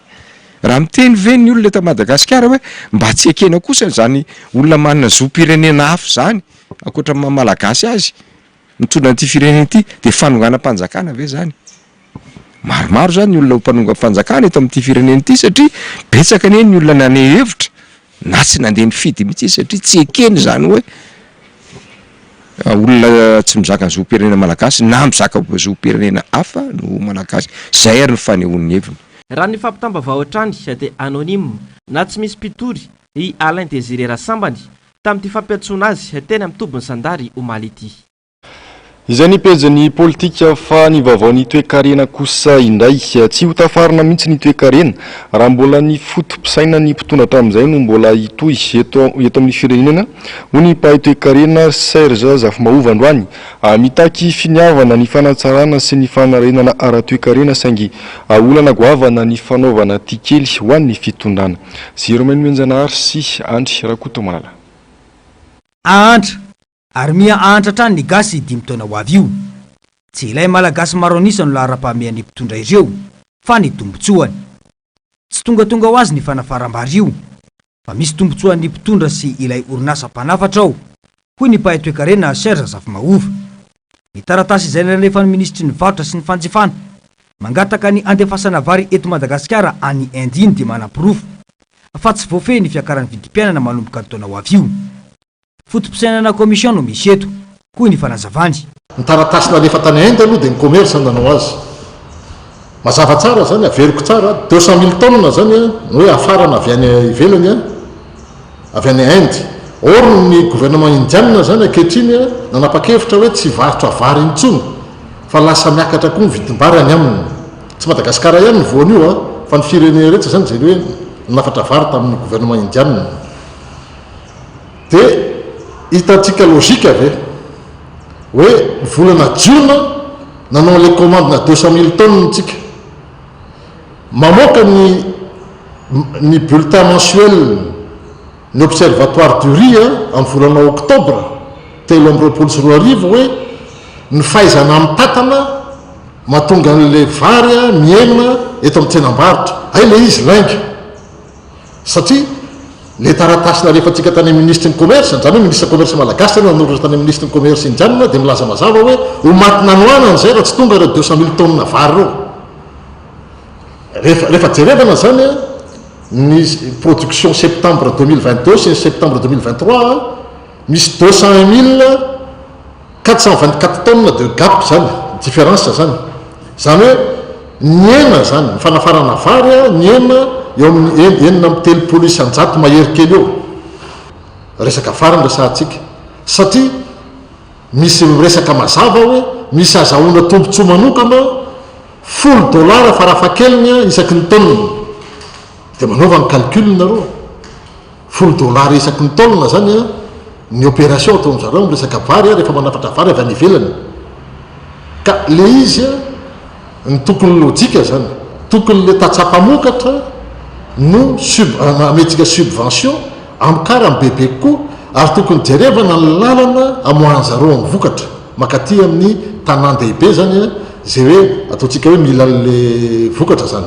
Raha miteny ve ny olona eto Madagasikara hoe mba tsy ekena kosa zany olona manana zom-pirenena hafa zany ankoatra ny maha Malagasy azy mitondra an'ity firenena ity dia fanonganam-panjakana ve zany? Maromaro zany ny olona ho mpanongam-panjakana eto amin'ity firenena ity satria betsaka anie ny olona naneho hevitra Na tsy nandeha nifidy mihitsy izy satria tsy ekeny izany hoe olona tsy mizaka ny zom-pirenena malagasy na mizaka zom-pirenena hafa no Malagasy. Izay ary ny fanehoan'ny heviny. Raha ny fampitam-baovao hatrany dia anonyme na tsy misy mpitory i Alain Désiré Rasambany tamin'ity fampiantsoana azy teny amin'ny tobin'ny zandary omaly ity. Izay ny pejin'ny politika fa ny vaovaon'ny toekarena kosa indray, tsy ho tafarina mihitsy ny toekarena raha mbola ny foto-pisainan'ny mpitondra hatramin'izay no mbola hitohy eto eto amin'ny firenena, hoy ny mpahay toekarena Serge Zafimahova androany. Mitaky finiavana ny fanatsarana sy ny fanarenana ara-toekarena saingy olana goavana ny fanaovana tikely ho an'ny fitondrana. Ziromenomenjanahary sy Andry Rakotomala. Ahantra, Ary miha ahantra hatrany ny gasy dimy taona ho avy io. Tsy ilay malagasy maro an'isa no laharam-pahamehan'ny mpitondra ireo, fa ny tombotsoany. Tsy tongatonga ho azy ny fanafaram-bary io, fa misy tombotsoan'ny mpitondra sy ilay orinasa mpanafatra ao, hoy ny mpahay toekarena Serge Zafimahova. Ny taratasy izay nalefan'ny minisitry ny varotra sy ny fanjifana mangataka ny handefasana vary eto Madagasikara any Inde iny dia manaporofo fa tsy voafehy ny fiakaran'ny vidim-piainana manomboka ny taona ho avy io. Foto-pisainana commission no misy eto, hoy ny fanazavany. Ny taratasy nalefa tany Inde aloha dia ny commerce nanao azy. Mazava tsara izany, averiko tsara, deux cent mille tonnes izany no hoe hafarana avy any ivelany, avy any Inde. Or ny gouvernement indianina izany ankehitriny nanapa-kevitra hoe tsy hivarotra vary intsony fa lasa miakatra koa ny vidim-bary any aminy. Tsy Madagasikara ihany no voan'io an, fa ny firenena rehetra izany izay hoe nanafatra vary tamin'ny gouvernement indianina. Dia hitantsika logika ve? Hoe ny volana jiona nanao an'ilay commande-na deux cent mille tonnes ntsika. Mamoaka ny ny bulletin mensuel ny observatoire du riz an, amin'ny volana oktobra telo amby roapolo sy roa arivo hoe ny fahaizana mitatana mahatonga an'ilay vary mihena eto amin'ny tsenam-barotra. Hay ilay izy lainga. satria le taratasy nalefantsika tany amin'ny minisitry ny commerce, izany hoe minisitra commerce malagasy no nanoratra tany amin'ny minisitry ny commerce indianina dia milaza mazava hoe ho maty nanohanana izay raha tsy tonga ireo deux cent mille tonnes vary ireo. Rehefa, rehefa jerevana izany an, ny production septembre deux mille vingt deux sy ny septembre deux mille vingt trois an, misy deux cent un mille, Quatre cent vingt quatre tonnes de gap zany difference zany zany hoe ny ena zany ny fanafarana vary a ny ena eo amin'ny en enina amby telopolo isanjato mahery kely eo resaka vary no resahantsika satria misy miresaka mazava hoe misy azahoana tombotsoa manokana folo dollars farafahakeliny a isaky ny tonne dia manaova ny calcul nareo Folo dollars isaky ny taonina zany ny opération ataon zareo miresaka vary rehefa manafatra vary avy any ivelany ka le izy ny tokony lojika zany tokony le tatsa mpamokatra no sub amentsika subvention amokarany bebe kokoa ary tokony jerevana ny lalana amoahan zareo ny vokatra makaty amin ny tanan dehibe zany ze hoe ataontsika hoe mila le vokatra zany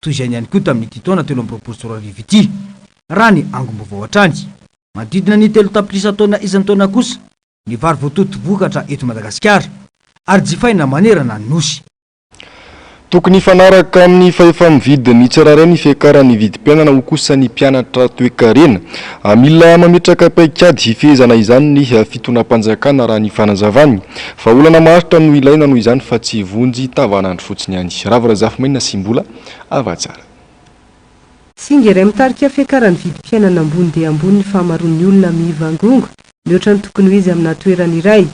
toy izany ihany koa tamin'ity taona telo amby roapolo sy roa arivo ity, raha ny angom-baovao hatrany. Manodidina ny telo tapitrisa taonina isan-taona kosa ny vary voatoto vokatra eto Madagasikara, ary jifaina manerana ny Nosy. Tokony hifanaraka amin'ny fahefa-mividy ny tsirairay ny fiakaran'ny vidim-piainana, hoy kosa ny mpianatra toekarena. Mila mametraka paikady hifehezana izany ny fitonam-panjakana, raha ny fanazavany. Vahaolana maharitra no ilaina noho izany fa tsy vonjy tavanandro fotsiny ihany. Rava Razafimainina sy Mbola ava tsara. Singa iray mitarika fiakaran'ny vidim-piainana ambony dia ambony ny fahamaroan'ny olona mivangongo mihoatra ny tokony ho izy aminà toerana iray.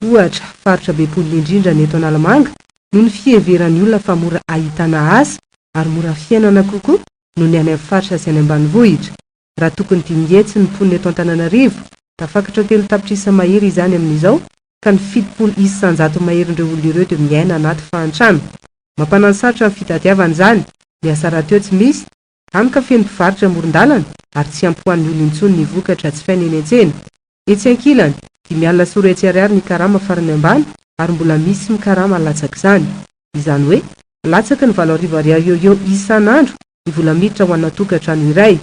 Ohatra, faritra be mponina indrindra ny eto Analamanga noho ny fiheveran'ny olona fa mora ahitana asa ary mora fiainana kokoa noho ny any amin'ny faritra sy any ambanivohitra. raha tokony dimy hetsy ny mponina eto Antananarivo, tafakatra telo tapitrisa mahery izany amin'izao ka ny fitopolo isan-jato maherin'ireo olona ireo dia miaina anaty fahantrana. Mampananosarotra ny fitadiavana izany, ny asa rahateo tsy misy, hany ka feno mpivarotra amoron-dalana ary tsy ampy ho an'ny olona intsony ny vokatra jifaina eny an-tsena. Etsy ankilany, dimy alina sy roa hetsy ariary ny karama farany ambany ary mbola misy mikarama latsak'izany. Izany hoe, latsaky ny valo arivo ariary eo eo isan'andro ny vola miditra ho ana tokantrano iray.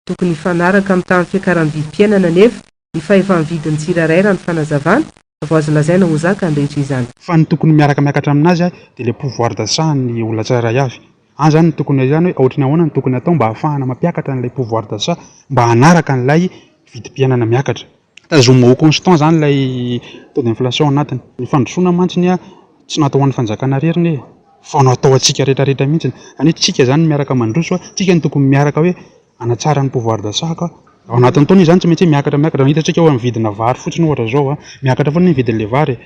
Tokony hifanaraka amin'ny tahan'ny fiakaran'ny vidim-piainana anefa ny fahefa-mividin'ny tsirairay raha ny fanazavana vao azo lazaina ho zaka andraikitra izany. Fa ny tokony miaraka miakatra amin'azy dia ilay pouvoir d'achat an'ny olona tsirairay avy. Any izany no tokony izany hoe ohatry ny ahoana no tokony hatao mba hahafahana mampiakatra an'ilay pouvoir d'achat mba hanaraka an'ilay vidim-piainana miakatra. Tazomy au constant izany ilay taux d'inflation ao anatiny. Ny fandrosoana mantsy ny tsy natao ho an'ny fanjakana irery ny fa natao ho antsika rehetra rehetra mihitsy izany hoe tsika izany no miaraka mandroso, tsika no tokony miaraka hoe hanatsara ny pouvoir d'achat ka. Ao anatin'ny taona izany tsy maintsy hoe miakatra miakatra, raha hitantsika hoe amin'ny vidina vary fotsiny ohatra izao miakatra foana ny vidin'ilay vary e.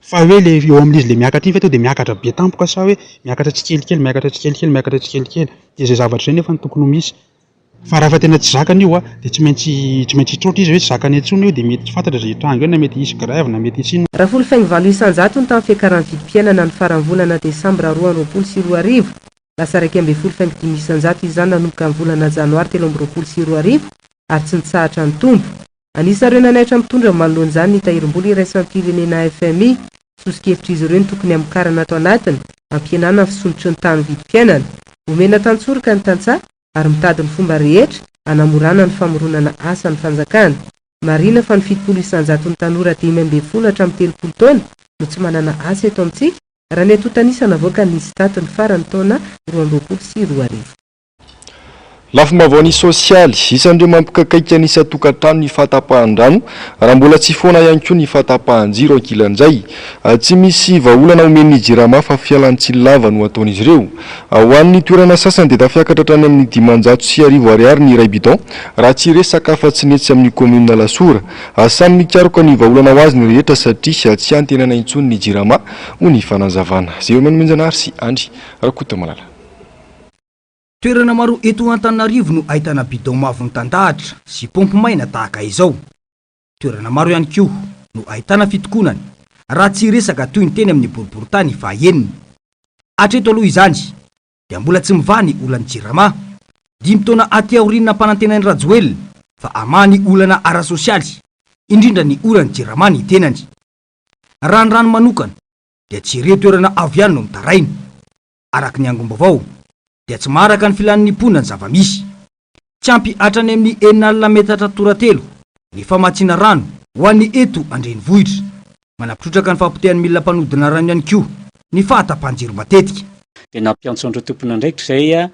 Fa hoe ilay eo amin'izy ilay miakatra iny ve tonga dia miakatra be tampoka sa hoe miakatra tsikelikely, miakatra tsikelikely, miakatra tsikelikely? Dia izay zavatra izay nefa no tokony ho misy. Fa raha efa tena tsy zakany io dia tsy maintsy tsy maintsy hitroatra izy hoe tsy zakany intsony io dia mety tsy fantatra izay hitranga eo na mety hisy grève na mety hisy inona. Raha folo faingo valo isan-jato ny tamin'ny fiakaran'ny vidim-piainana ny faran'ny volana desambra roa amby roapolo sy roa arivo, lasa iraika ambin'ny folo faingo dimy isan-jato izany nanomboka ny volana janoary telo amby roapolo sy roa arivo ary tsy nitsahatra nitombo. Anisan'ireo nanaitra mitondra ny manoloan'izany ny Tahirim-bola Iraisam-pirenena, fmi. Soso-kevitr'izy ireo ny tokony hamokarana ato anatiny, hampihenana ny fisolotry ny tany vidim-piainana, homena tantsoroka ny tantsaha ary mitady ny fomba rehetra hanamorana ny famoronana asa ny fanjakana. Marina fa ny fitopolo isan-jaton'ny tanora dimy ambin'ny folo hatramin'ny telopolo taona no tsy manana asa eto amintsika, raha ny antontan'isa navoakan'ny ISTAT ny faran'ny taona roa amby roapolo sy roa arivo. Lafim-baovaon'ny sosialy, isan'ireo mampikaikaika ny isan-tokantrano ny fahatapahan-drano, raha mbola tsy foana ihany koa ny fahatapahan-jiro ankilan'izay. Tsy misy vahaolana omen'ny Jirama fa fialan-tsiny lava no ataon'izy ireo. Ho an'ny toerana sasany dia tafiakatra hatrany amin'ny dimanjato sy arivo ariary ny iray bidon, raha tsy resaka afa-tsy ny etsy amin'ny kaominina Alasora. Samy mikaroka ny vahaolana ho azy ny rehetra satria tsy antenaina intsony ny Jirama, hoy ny fanazavana. Zéomène Menjanary sy Andry Rakotomalala. Toerana maro eto Antananarivo no ahitana bidon mavo mitandahatra sy paompy maina tahaka izao. Toerana maro ihany koa no ahitana fitokonana, raha tsy hiresaka toy ny teny amin'ny boriborintany fahaenina. Hatreto aloha izany dia mbola tsy mivaha ny olan'ny Jirama. Dimy taona aty aoriana nampanantenain'i Rajoelina fa hamaha ny olana ara-sosialy, indrindra ny olan'ny Jirama ny tenany. Raha ny rano manokana dia tsy ireo toerana avo ihany no mitaraina. araka ny angom-baovao, dia tsy maharaka ny filan'ny mponina ny zava-misy. Tsy ampy hatrany amin'ny enina alina metatra tora-telo ny famatsiana rano ho an'ny eto an-drenivohitra. Manampitrotraka ny fahapotehan'ny milina mpanodina rano ihany koa ny fahatapahan-jiro matetika. dia nampiantso an'ireo tompon'andraikitra izay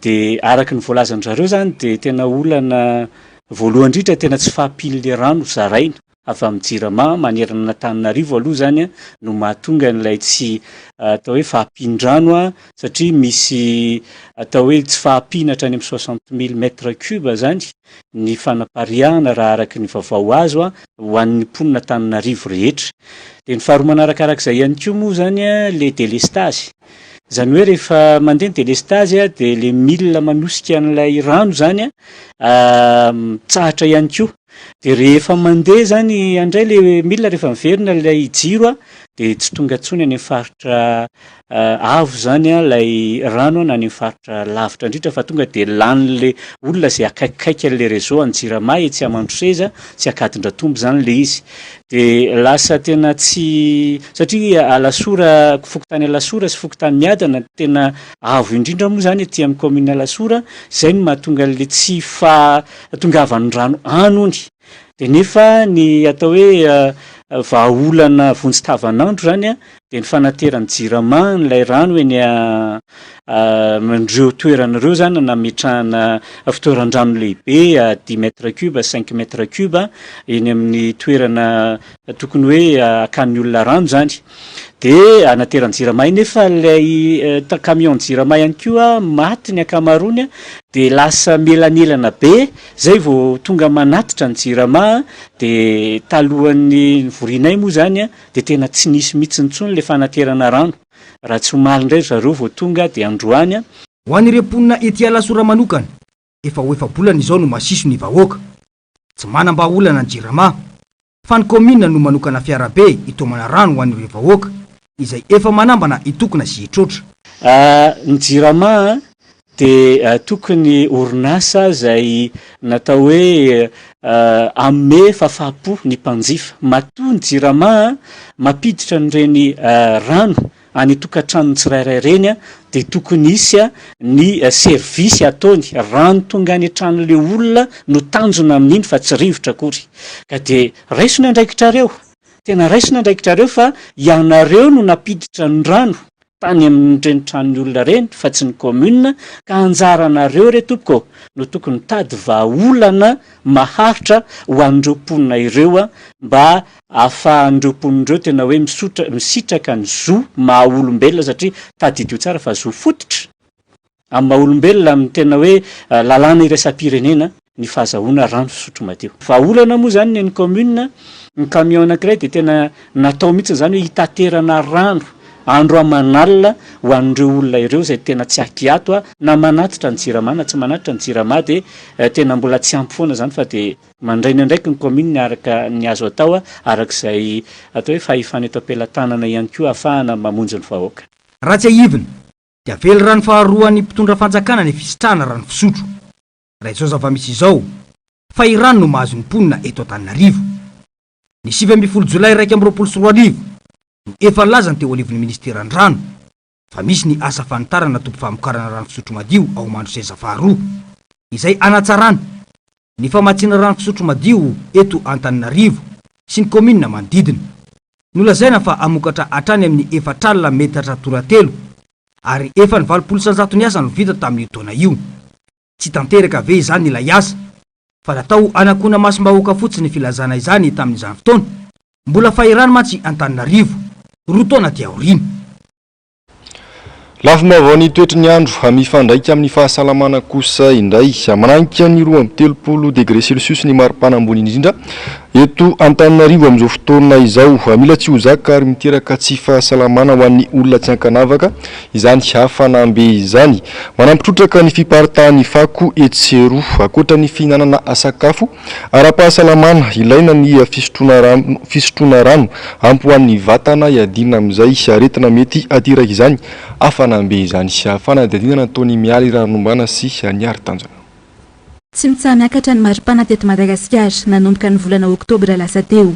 dia araka ny voalazan-dry zareo izany dia tena olana voalohany indrindra tena tsy fahampian'ilay rano zaraina. avy amin'ny Jirama manerana an'Antananarivo aloha izany no mahatonga an'ilay tsy atao hoe fahampian-drano satria misy atao hoe tsy fahampiana hatrany amin'ny soixante mille mètres cubes izany ny fanapariahana raha araka ny vaovao azo ho an'ny mponin'Antananarivo rehetra. Dia ny faharoa manaraka araka izay ihany koa moa izany ilay delestazy. Izany hoe rehefa mandeha ny delestazy dia ilay milina manosika an'ilay rano izany mitsahatra ihany koa. Dia rehefa mandeha izany andray ilay milina rehefa miverina ilay jiro dia tsy tonga intsony any amin'ny faritra avo izany ilay rano na any amin'ny faritra lavitra indrindra fa tonga dia lanin'ilay olona izay akaikikaiky an'ilay réseau any Jirama etsy Amandroseza sy Ankadindratombo izany ilay izy. Dia lasa tena tsy, satria Alasora, fokontany Alasora sy fokontany Miadana no tena avo indrindra moa izany aty amin'ny kaominina Alasora, izay no mahatonga an'ilay tsy faha, tongavan'ny rano any hono dia nefa ny atao hoe vahaolana vonjy tavanandro izany an, dia ny fanateran'ny jirama an'ilay rano eny amin'ireo toerana ireo izany an, nametrahana fitoeran-drano lehibe à dix mètres cubes, cinq mètres cubes eny amin'ny toerana tokony hoe hakan'ny olona rano izany. Dia anateran'ny jirama iny nefa ilay camion jirama ihany koa maty ny ankamaroany dia lasa mielanelana be izay vao tonga manatitra ny jirama dia talohan'ny nivorianay moa izany dia tena tsy nisy mihitsy intsony ilay fanaterana rano raha tsy omaly indray ry zareo vao tonga dia androany Ho an'ireo mponina ety Alasora manokana, efa ho efa-bolana izao no masiso ny vahoaka. Tsy manam-bahaolana ny Jirama, fa ny kaominina no manokana fiarabe hitaomana rano ho an'ireo vahoaka izay efa manambana hitokona sy hitroatra. Ny Jirama dia tokony orinasa izay natao hoe hanome fahafahampo ny mpanjifa. Matoa ny Jirama mampiditra an'ireny rano Any tokantranony tsirairay ireny dia tokony hisy ny service ataony rano tonga any an-tranon'le olona no tanjona amin'iny fa tsy rivotra akory ka dia raiso ny andraikitrareo tena raiso ny andraikitrareo fa ianareo no nampiditra ny rano tany amin'ireny tranon'ny olona ireny fa tsy ny commune ka anjaranareo re tompoko ô no tokony mitady vahaolana maharitra ho an'ireo mponina ireo mba ahafahan'ireo mponina ireo tena hoe misotra, misitraka ny zo maha olombelona satria tadidio tsara fa zo fototra amin'ny maha olombelona amin'ny tena hoe lalàna iraisam-pirenena ny fahazahoana rano fisotro madio. Vahaolana moa izany ny an'ny kaominina, ny camion anankiray dia tena natao mihitsy izany hoe hitaterana rano andro aman'alina ho an'ireo olona ireo izay tena tsy ahiato na manatitra ny jirama na tsy manatitra ny jirama dia tena mbola tsy ampy foana izany fa dia Mandray ny andraikiny ny kaominina araka ny azo atao, araka izay atao hoe fahefana eto am-pelatanana ihany koa ahafahana mamonjy ny vahoaka. Raha tsiahivina dia velirano faharoan'ny mpitondra fanjakana ny fisitrahana rano fisotro, raha izao zava-misy izao, fahirano no mahazo ny mponina eto Antananarivo. Ny sivy ambin'ny folo jolay iraika amby roapolo sy roa arivo no efa nilaza ny teo anivon'ny ministeran'ny rano fa misy ny asa fanitarana toby famokarana rano fisotro madio ao Mandroseza faharoa, izay hanatsarana ny famatsiana rano fisotro madio eto Antananarivo sy ny kaominina manodidina. Nolazaina fa hamokatra hatrany amin'ny efatr'alina metatra toratelo, ary efa ny valopolo isan-jaton'ny asa no vita tamin'io taona io. Tsy tanteraka ve izany ilay asa? Fa natao hanakona masom-bahoaka fotsiny ny filazana izany tamin'izany fotoana. Mbola fahirano mantsy Antananarivo, roa taona aty aoriana. Lafim-baovao ny toetry ny andro a Mifandraika amin'ny fahasalamana kosa indray. Manahika ny roa amby telopolo degre celsius ny maripana ambony indrindra eto Antananarivo amin'izao fotoana izao. Mila tsy ho zaka ary miteraka tsy fahasalamana ho an'ny olona tsy ankanavaka Izany hafanam-be izany manampy trotraka ny fiparitahan'ny fako etsy sy eroa. Ankoatra ny fihinanana sakafo ara-pahasalamana, ilaina ny fisotroana rano, fisotroana rano ampy ho an'ny vatana hiadiana amin'izay aretina mety hateraka izany hafanam-be izany. Fanadihadiana nataon'i Mialy Rarinombana sy Haniary Tanjona. Tsy mitsaha-miakatra ny maripana teto Madagasikara, nanomboka ny volana oktobra lasa teo.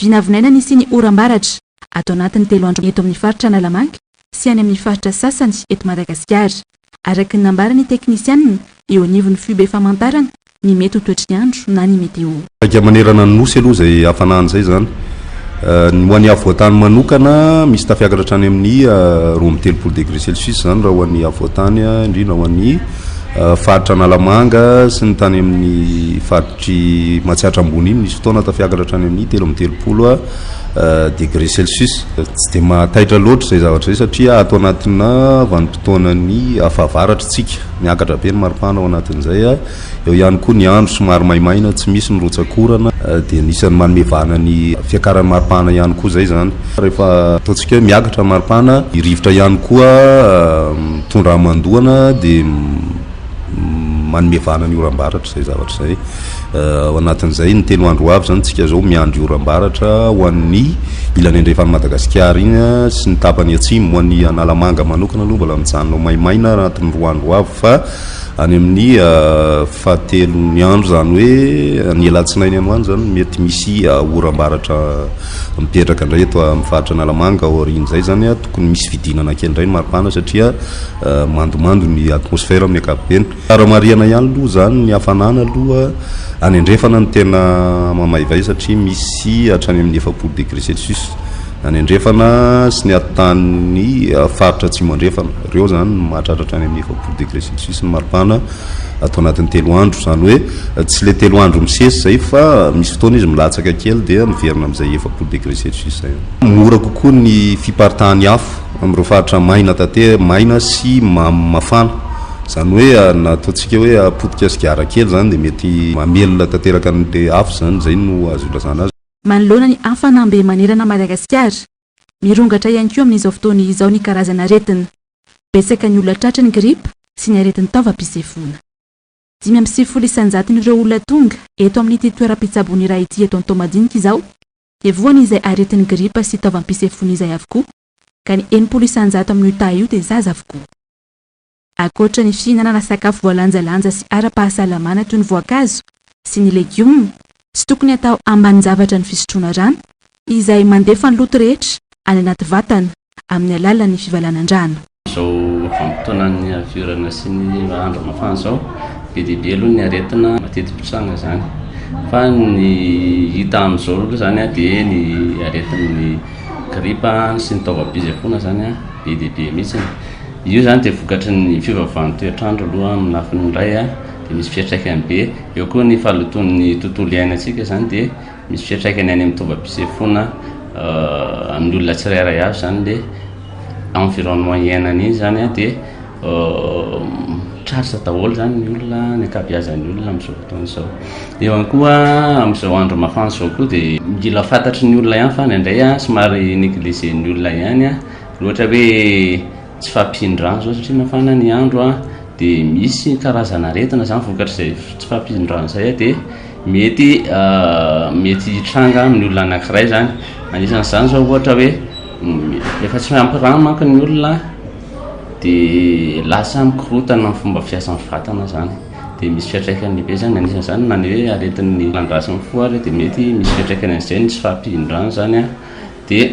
Vinavinaina ny hisian'ny oram-baratra ato anatin'ny telo andro eto amin'ny faritra Analamanga sy any amin'ny faritra sasany eto Madagasikara. Araka ny nambaran'ny teknisianina eo anivon'ny FUB famantarana ny mety ho toetry ny andro na ny meteo. Saika manerana ny Nosy aloha izay hafanana izay izany. Ny ho an'ny afovoantany manokana, misy tafiakatra hatrany amin'ny roa amby telopolo degré celsius izany raha ho an'ny afovoantany, indrindra ho an'ny faritra Analamanga sy ny tany amin'ny far. Aty Matsiatra Ambony iny misy fotoana tafiakatra hatrany amin'ny telo amby telopolo degré celsius. Tsy dia mahataitra loatra izay zavatra izay satria ato anatina vanim-potoanan'ny fahavaratra isika. Miakatra be ny maripana ao anatin'izay. Eo ihany koa ny andro somary maimaina, tsy misy ny rotsak'orana dia anisan'ny manome vahana ny fiakaran'ny maripana ihany koa izay izany. Rehefa ataontsika hoe miakatra ny maripana, ny rivotra ihany koa mitondra hamandoana dia. Manome vahana ny oram-baratra izay zavatra izay. Ao anatin'izay, ny telo andro ho avy izany isika izao miandry oram-baratra ho an'ny ilany andrefan'i Madagasikara iny sy ny tapany atsimo. Ho an'i Analamanga manokana aloha mbola mijanona ho maimaina anatin'ny roa andro ho avy fa any amin'ny fahatelon'ny andro izany hoe ny alatsinainy any ho any izany mety misy oram-baratra mipetraka indray eto amin'ny faritra Analamanga. Aorian'izay izany tokony misy fidinana kely indray ny maripana satria mandomando ny atmosfera amin'ny ankapobeny. Tsara marihana ihany aloha izany ny hafanana aloha any andrefana no tena mamaivay satria misy hatrany amin'ny efapolo degré celsius any andrefana sy ny atotanin'ny faritra atsimo andrefana. Ireo izany no mahatratra hatrany amin'ny efapolo degré celsius ny maripana ato anatin'ny telo andro. Izany hoe tsy ilay telo andro misesy izay fa misy fotoana izy milatsaka kely dia miverina amin'izay efapolo degré celsius izay. Mora kokoa ny fiparitahan'ny afo. amin'ireo faritra maina tate maina sy mamo mafana izany hoe na ataontsika hoe potika sigara kely izany dia mety mamelona tanteraka an'ilay afo izany, izay no azo ilazana azy. Manoloana ny hafanam-be manerana an'i Madagasikara, mirongatra ihany koa amin'izao fotoana izao ny karazan'aretina. Betsaka ny olona tratry ny gripa sy ny aretin-taovam-pisefoana. Dimy amby sivifolo isan-jatony ireo olona tonga eto amin'ity toeram-pitsaboana iray ity eto Antohomadinika izao dia voan' izay aretin' ny gripa sy taovam-pisefoana izay avokoa, ka ny enimpolo isan-jato amin' io taha io dia zaza avokoa. Ankoatra ny fihinanana sakafo voalanjalanja sy ara-pahasalamana toy ny voankazo sy ny legioma, tsy tokony hatao ambanin-javatra ny fisotroana rano, izay mandefa ny loto rehetra any anaty vatana. amin'ny alalan'ny fivalanan-drano. Izao vanim-potoanan'ny haviorana sy ny andro mafana izao, be dia be aloha ny aretina mateti-pitranga izany. Fa ny hita amin'izao aloha izany dia ny aretin'ny gripa sy ny taovam-pisefoana izany be dia be mihitsy. Io izany dia vokatry ny fiovaovan'ny toetr'andro aloha amin'ny lafiny iray dia misy fiantraikany be. Eo koa ny fahalotoan'ny tontolo iainantsika izany dia... Misy fiantraikany any amin'ny tombam-pisefoana amin'ny olona tsirairay avy izany le environnement iainany iny izany a, dia tratra daholo izany ny olona, ny ankabeazan'ny olona amin'izao fotoana izao. Eo ihany koa amin'izao andro mafana izao koa dia mila fantatry ny olona ihany fa indraindray somary negliger-n'ny olona ihany a, ohatra hoe. tsy fahampian'ny rano izao satria mafana ny andro dia misy karazana aretina izany vokatr'izay tsy fahampian'ny rano izay dia mety mety hitranga amin'ny olona anankiray izany anisan'izany izao ohatra hoe efa tsy ampy rano manko ny olona dia lasa mikorotana ny fomba fiasan'ny vatana izany dia misy fiantraikany lehibe izany anisan'izany na ny hoe aretin'ny landrasin'ny fo ary dia mety misy fiantraikany an'izay ny tsy fahampian'ny rano izany dia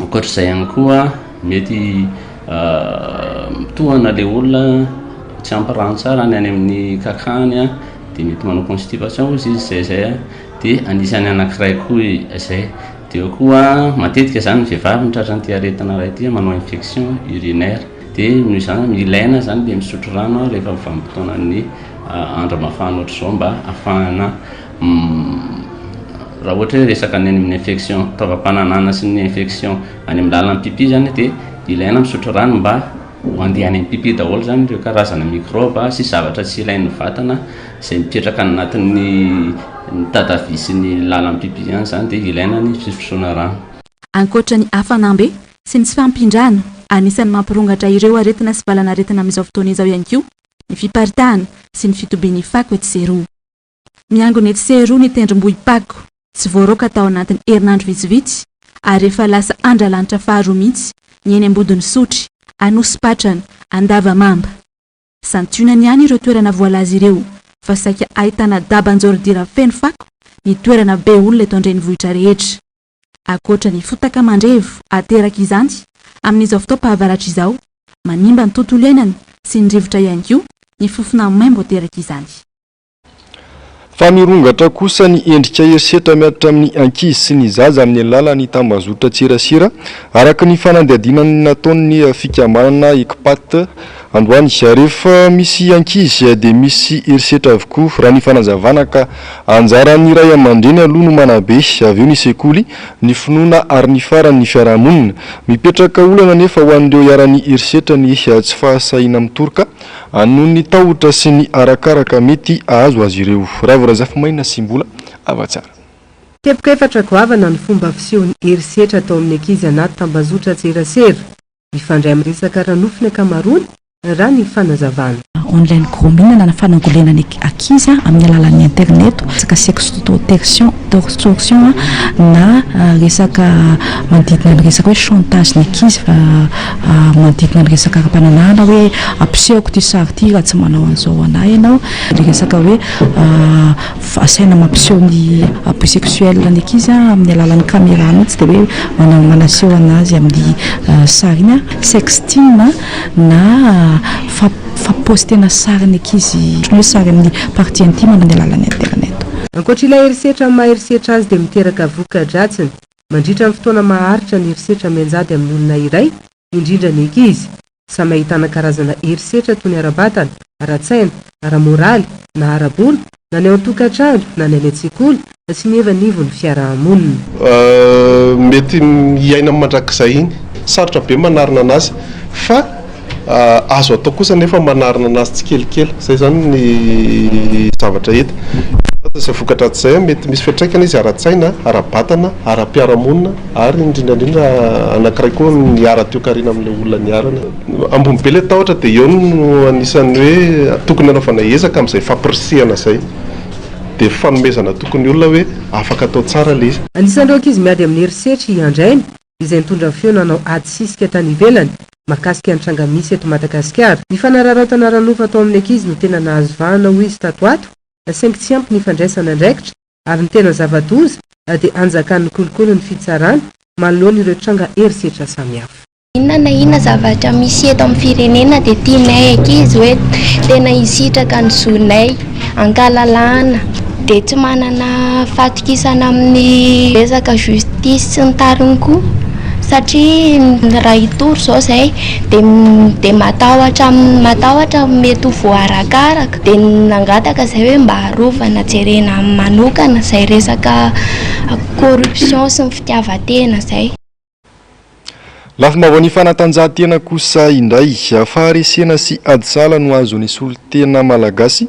Ankoatr'izay ihany koa, mety mitohana ilay olona, tsy ampy rano tsara ny any amin'ny kankany, dia mety manao constipation hoy izy izay izay, dia anisan'ny anankiray koa izay. Dia eo koa matetika izany ny vehivavy no tratran'ity aretina iray ity, manao infection urinaire. Dia noho izany no ilaina izany ilay misotro rano rehefa vanim-potoanan'ny andro mafana ohatr'izao mba hahafahana Raha ohatra hoe resaka ny amin'ny infection taovam-pananahana sy ny infection any amin'ny lalan'ny pipi zany dia ilaina misotro rano mba ho andeha any amin'ny pipi daholo zany ireo karazana microbe sy zavatra tsy ilain'ny vatana izay mipetraka any anatin'ny tatavi sy ny lalan'ny pipi any zany dia ilaina ny fisotroana rano. Ankoatra ny hafanam-be sy ny tsy fahampian-drano, anisan'ny mampirongatra ireo aretina sy valanaretina amin'izao fotoana izao ihany koa ny fiparitahana sy ny fitobian'ny fako etsy sy eroa. Miangona etsy sy eroa ny tendrombohim-pako, tsy voaroaka tao anatin'ny herinandro vitsivitsy, ary efa lasa andralanitra faharoa mihitsy ny eny Ambodin'Isotry, Anosipatrana, Andavamamba. Santionany ihany ireo toerana voalaza ireo fa saika ahitana daba an-jaoridira feno fako ny toerana be olona eto an-drenivohitra rehetra. Ankoatra ny fotaka mandrevo aterak'izany amin'izao fotoam-pahavaratra izao, manimba ny tontolo iainana sy ny rivotra ihany koa ny fofona maimbo aterak'izany. Fa mirongatra kosa ny endrika herisetra mihatra amin'ny ankizy sy ny zaza amin'ny alalan'ny tambazotran-tserasera, araka ny fanadihadiana nataon'ny fikambanana Ecpat androany. Rehefa misy ankizy dia misy herisetra avokoa, raha ny fanazavana, ka anjaran'ny ray aman-dreny aloha no manabe, avy eo ny sekoly, ny finoana ary ny farany ny fiarahamonina. Mipetraka olana anefa ho an'ireo iharan'ny herisetra ny tsy fahasahiana mitoroka, Anon'ny tahotra sy ny arakaraka mety ahazo azy ireo. Raivo Razafimaina sy Mbola hava tsara. Teboka efatra goavana ny fomba fisehon'ny herisetra atao amin'ny ankizy anaty tambazotran-tserasera. Mifandray amin'ny resaka ara-nofo ny ankamaroany, raha ny fanazavana. online gros minana na fanangolenana ankizy amin'ny alalan'ny interneto, resaka sextotertion. tortion na resaka manodidina ny resaka hoe chantage ny ankizy fa manodidina ny resaka ara-pananahana hoe ampisehoko ity sary ity raha tsy manao an'izao ho an'ahy ianao, ny resaka hoe asaina mampiseho ny abus sexuel ny ankizy amin'ny alalan'ny caméra mihitsy dia hoe manaseho an'azy amin'ny sary iny, sexting. na fa paostena sarin'ny ankizy ohatran'ny hoe sarin'ny partie intime amin'ny alalan'ny internet. Ankoatra ilay herisetra amin'ny maha herisetra azy dia miteraka voka-dratsiny mandritra ny fotoana maharitra ny herisetra mianjady amin'ny olona iray, indrindra ny ankizy. Samy ahitana karazana herisetra toy ny ara-batana, ara-tsaina, ara-moraly na ara-bola na ny ao an-tokantrano na ny any an-tsekoly sy ny eo anivon'ny fiaraha-monina. Mety hiaina mandrakizay iny. Sarotra be manarina anazy fa azo atao kosa anefa ny manarina anazy tsikelikely. Izay izany ny zavatra hita. Izay vokatra ato izay, mety misy fiantraikany izy ara-tsaina, ara-batana, ara-piarahamonina ary indrindra indrindra anankiray koa ny ara-toekarena amin'ilay olona niharana. Ambony be ilay tahotra dia eo no anisan'ny hoe tokony hanaovana ezaka amin'izay fampirisihana izay. Dia fanomezana toky ny olona hoe afaka atao tsara ilay izy. Anisan'ireo ankizy miady amin'ny herisetra i Andraina izay nitondra ny feo nanao ady sisika tany ivelany mahakasika ny tranga misy eto Madagasikara. Ny fanararaotana ara-nofo atao amin'ny ankizy no tena nahazo vahana hoy izy tato ato saingy tsy ampy ny fandraisana andraikitra ary ny tena zava-doza dia anjakan'ny kolikoly ny fitsarana manoloana ireo tranga herisetra samihafa. Inona na inona zavatra misy eto amin'ny firenena dia tianay ankizy hoe tena hisitraka ny zonay, hankalalahana, dia tsy manana fahatokisana amin'ny resaka justice sy ny tariny koa satria raha hitory izao izay dia matahotra matahotra mety ho voarakaraka dia nangataka izay hoe mba arovana jerena manokana izay resaka corruption sy ny fitiavan-tena izay. Lafim-baovaon'ny fanatanjahantena kosa indray, faharesena sy ady sahala no azo nisolo tena Malagasy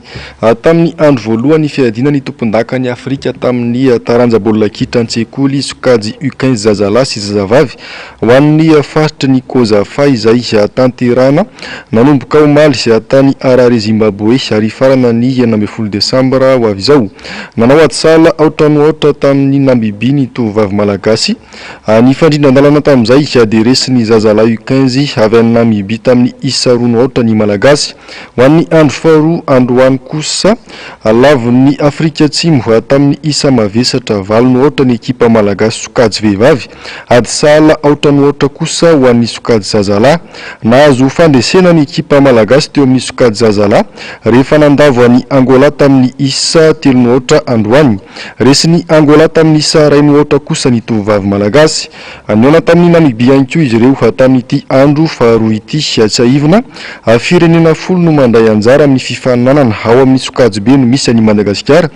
tamin'ny andro voalohan'ny fiadiana ny tompondakan'i Afrika tamin'ny taranja baolina kitra an-tsekoly sokajy U quinze zazalahy sy zazavavy ho an'ny faritry ny Cosafa izay tanterahina nanomboka omaly tany Harare Zimbaboe ary hifarana ny enina ambin'ny folo desambra ho avy izao. Nanao ady sahala aotra no aotra tamin'ny Namibia ny tovovavy Malagasy. A Nifandrindra an-dalana tamin'izay dia resy ny zazalahy U quinze avy any Namibia tamin'ny isa roa no aotra ny Malagasy. Ho an'ny andro faharoa androany kosa, lavon'ny Afrika Atsimo, tamin'ny isa mavesatra valo no aotra ny ekipa Malagasy sokajy vehivavy. Ady sahala aotra no aotra kosa ho an'ny sokajy zazalahy. Nahazo fandresena ny ekipa Malagasy teo amin'ny sokajy zazalahy rehefa nandavo an'i Angola tamin'ny isa telo no aotra androany. Resin'i Angola tamin'isa iray no aotra kosa ny tovovavy malagasy. Nihaona tamin'i Namibia ihany koa izy ireo tamin'ity andro faharoa ity. Tsiahivina, firenena folo no mandray anjara amin'ny fifaninanana. Ao amin'ny sokajy-be no misy an'i Madagasikara,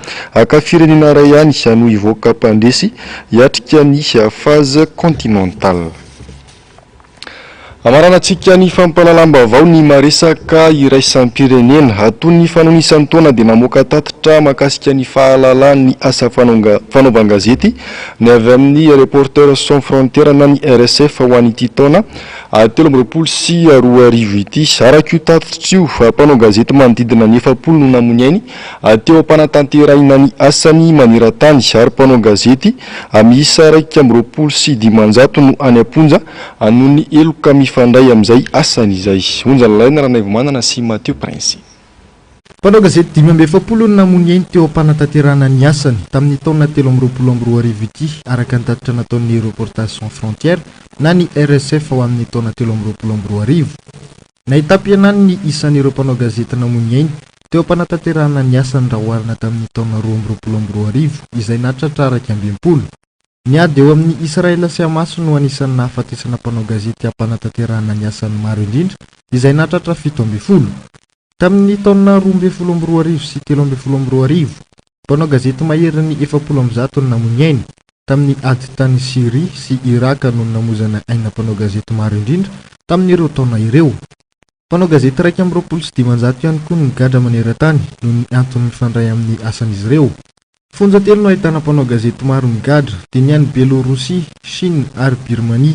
ka firenena iray ihany no hivoaka mpandresy hiatrika ny Phase Continentale. Hamaranantsika ny fampahalalam-baovao ny maresaka iraisam-pirenena. Ato ny fanao isan-taona dia mamoaka tatitra mahakasika ny fahalalany ny asa fanaovan-gazety ny avy amin'ny Reporters Sans Frontières na ny RSF ho an'ity taona telo amby roapolo sy roa arivo ity. Araka io tatitra io, mpanao gazety manodidina ny efapolo no namoy ainy Teo am-panatanterahina ny asany maneran-tany ary mpanao gazety miisa iraika amby roapolo sy dimanjato no any am-ponja noho ny heloka mifandray amin'izay asany izay. Onja nolaina Ranaivomanana sy Mathieu Prince. Mpanao gazety dimy amby efapolo no namono ainy teo am-panatanterahana ny asany tamin'ny taona telo amby roapolo amby roa arivo ity araka ny tatitra nataon'ny Reporters Sans Frontières na ny RSF ao amin'ny taona telo amby roapolo amby roa arivo. Nahitam-pihenany ny isan'ireo mpanao gazety namoy ny ainy, teo am-panatanterahana ny asany raha oharina tamin'ny taona roa amby roapolo amby roa arivo, izay nahatratra iraika amby enimpolo. Ny ady eo amin'i Israel sy Hamas no anisan'ny nahafatesana mpanao gazety am-panatanterahana ny asany maro indrindra, izay nahatratra fito ambin'ny folo. Tamin'ny taona roa ambin'ny folo amby roa arivo sy telo ambin'ny folo amby roa arivo, Mpanao gazety maherin'ny efapolo amby zato no namoy ny ainy, tamin'ny ady tany Syria sy Iràka no namoizana aina mpanao gazety maro indrindra tamin'ireo taona ireo. Mpanao gazety iraika amby roapolo sy dimanjato ihany koa no nigadra maneran-tany noho ny antony mifandray amin'ny asan'izy ireo. Fonja telo no ahitana mpanao gazety maro migadra, dia ny any Bielôrosia, Shina ary Birmania.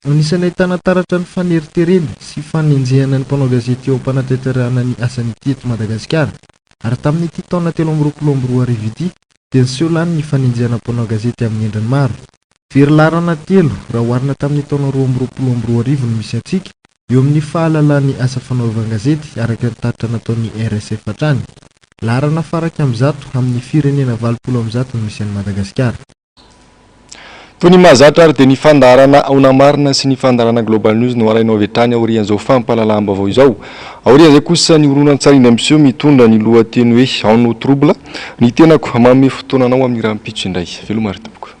Anisan'ny ahitana taratra ny faneriterena sy fanenjehana ny mpanao gazety eo am-panatanterahana ny asany ity eto Madagasikara, ary tamin'ity taona telo amby roapolo amby roa arivo ity dia niseho lany ny fanenjehana mpanao gazety amin'ny endriny maro. Very laharana telo raha oharina tamin'ny taona roa amby roapolo amby roa arivo no misy antsika eo amin'ny fahalalàn'ny asa fanaovan-gazety araka ny tatitra nataon'ny RSF hatrany. Laharana faraika amin'ny zato amin'ny firenena valopolo amin'ny zato no misy an'i Madagasikara. Toy ny mahazatra ary dia ny fandaharana Aona Marina sy ny fandaharana Global News no alainao avy hatrany aorian'izao fampahalalam-baovao izao. Aorian'izay kosa ny horonantsary indray miseho mitondra ny lohateny hoe Ao no trouble ny tenako, manome fotoana anao amin'ny rahampitso indray. Veloma ry tompoko.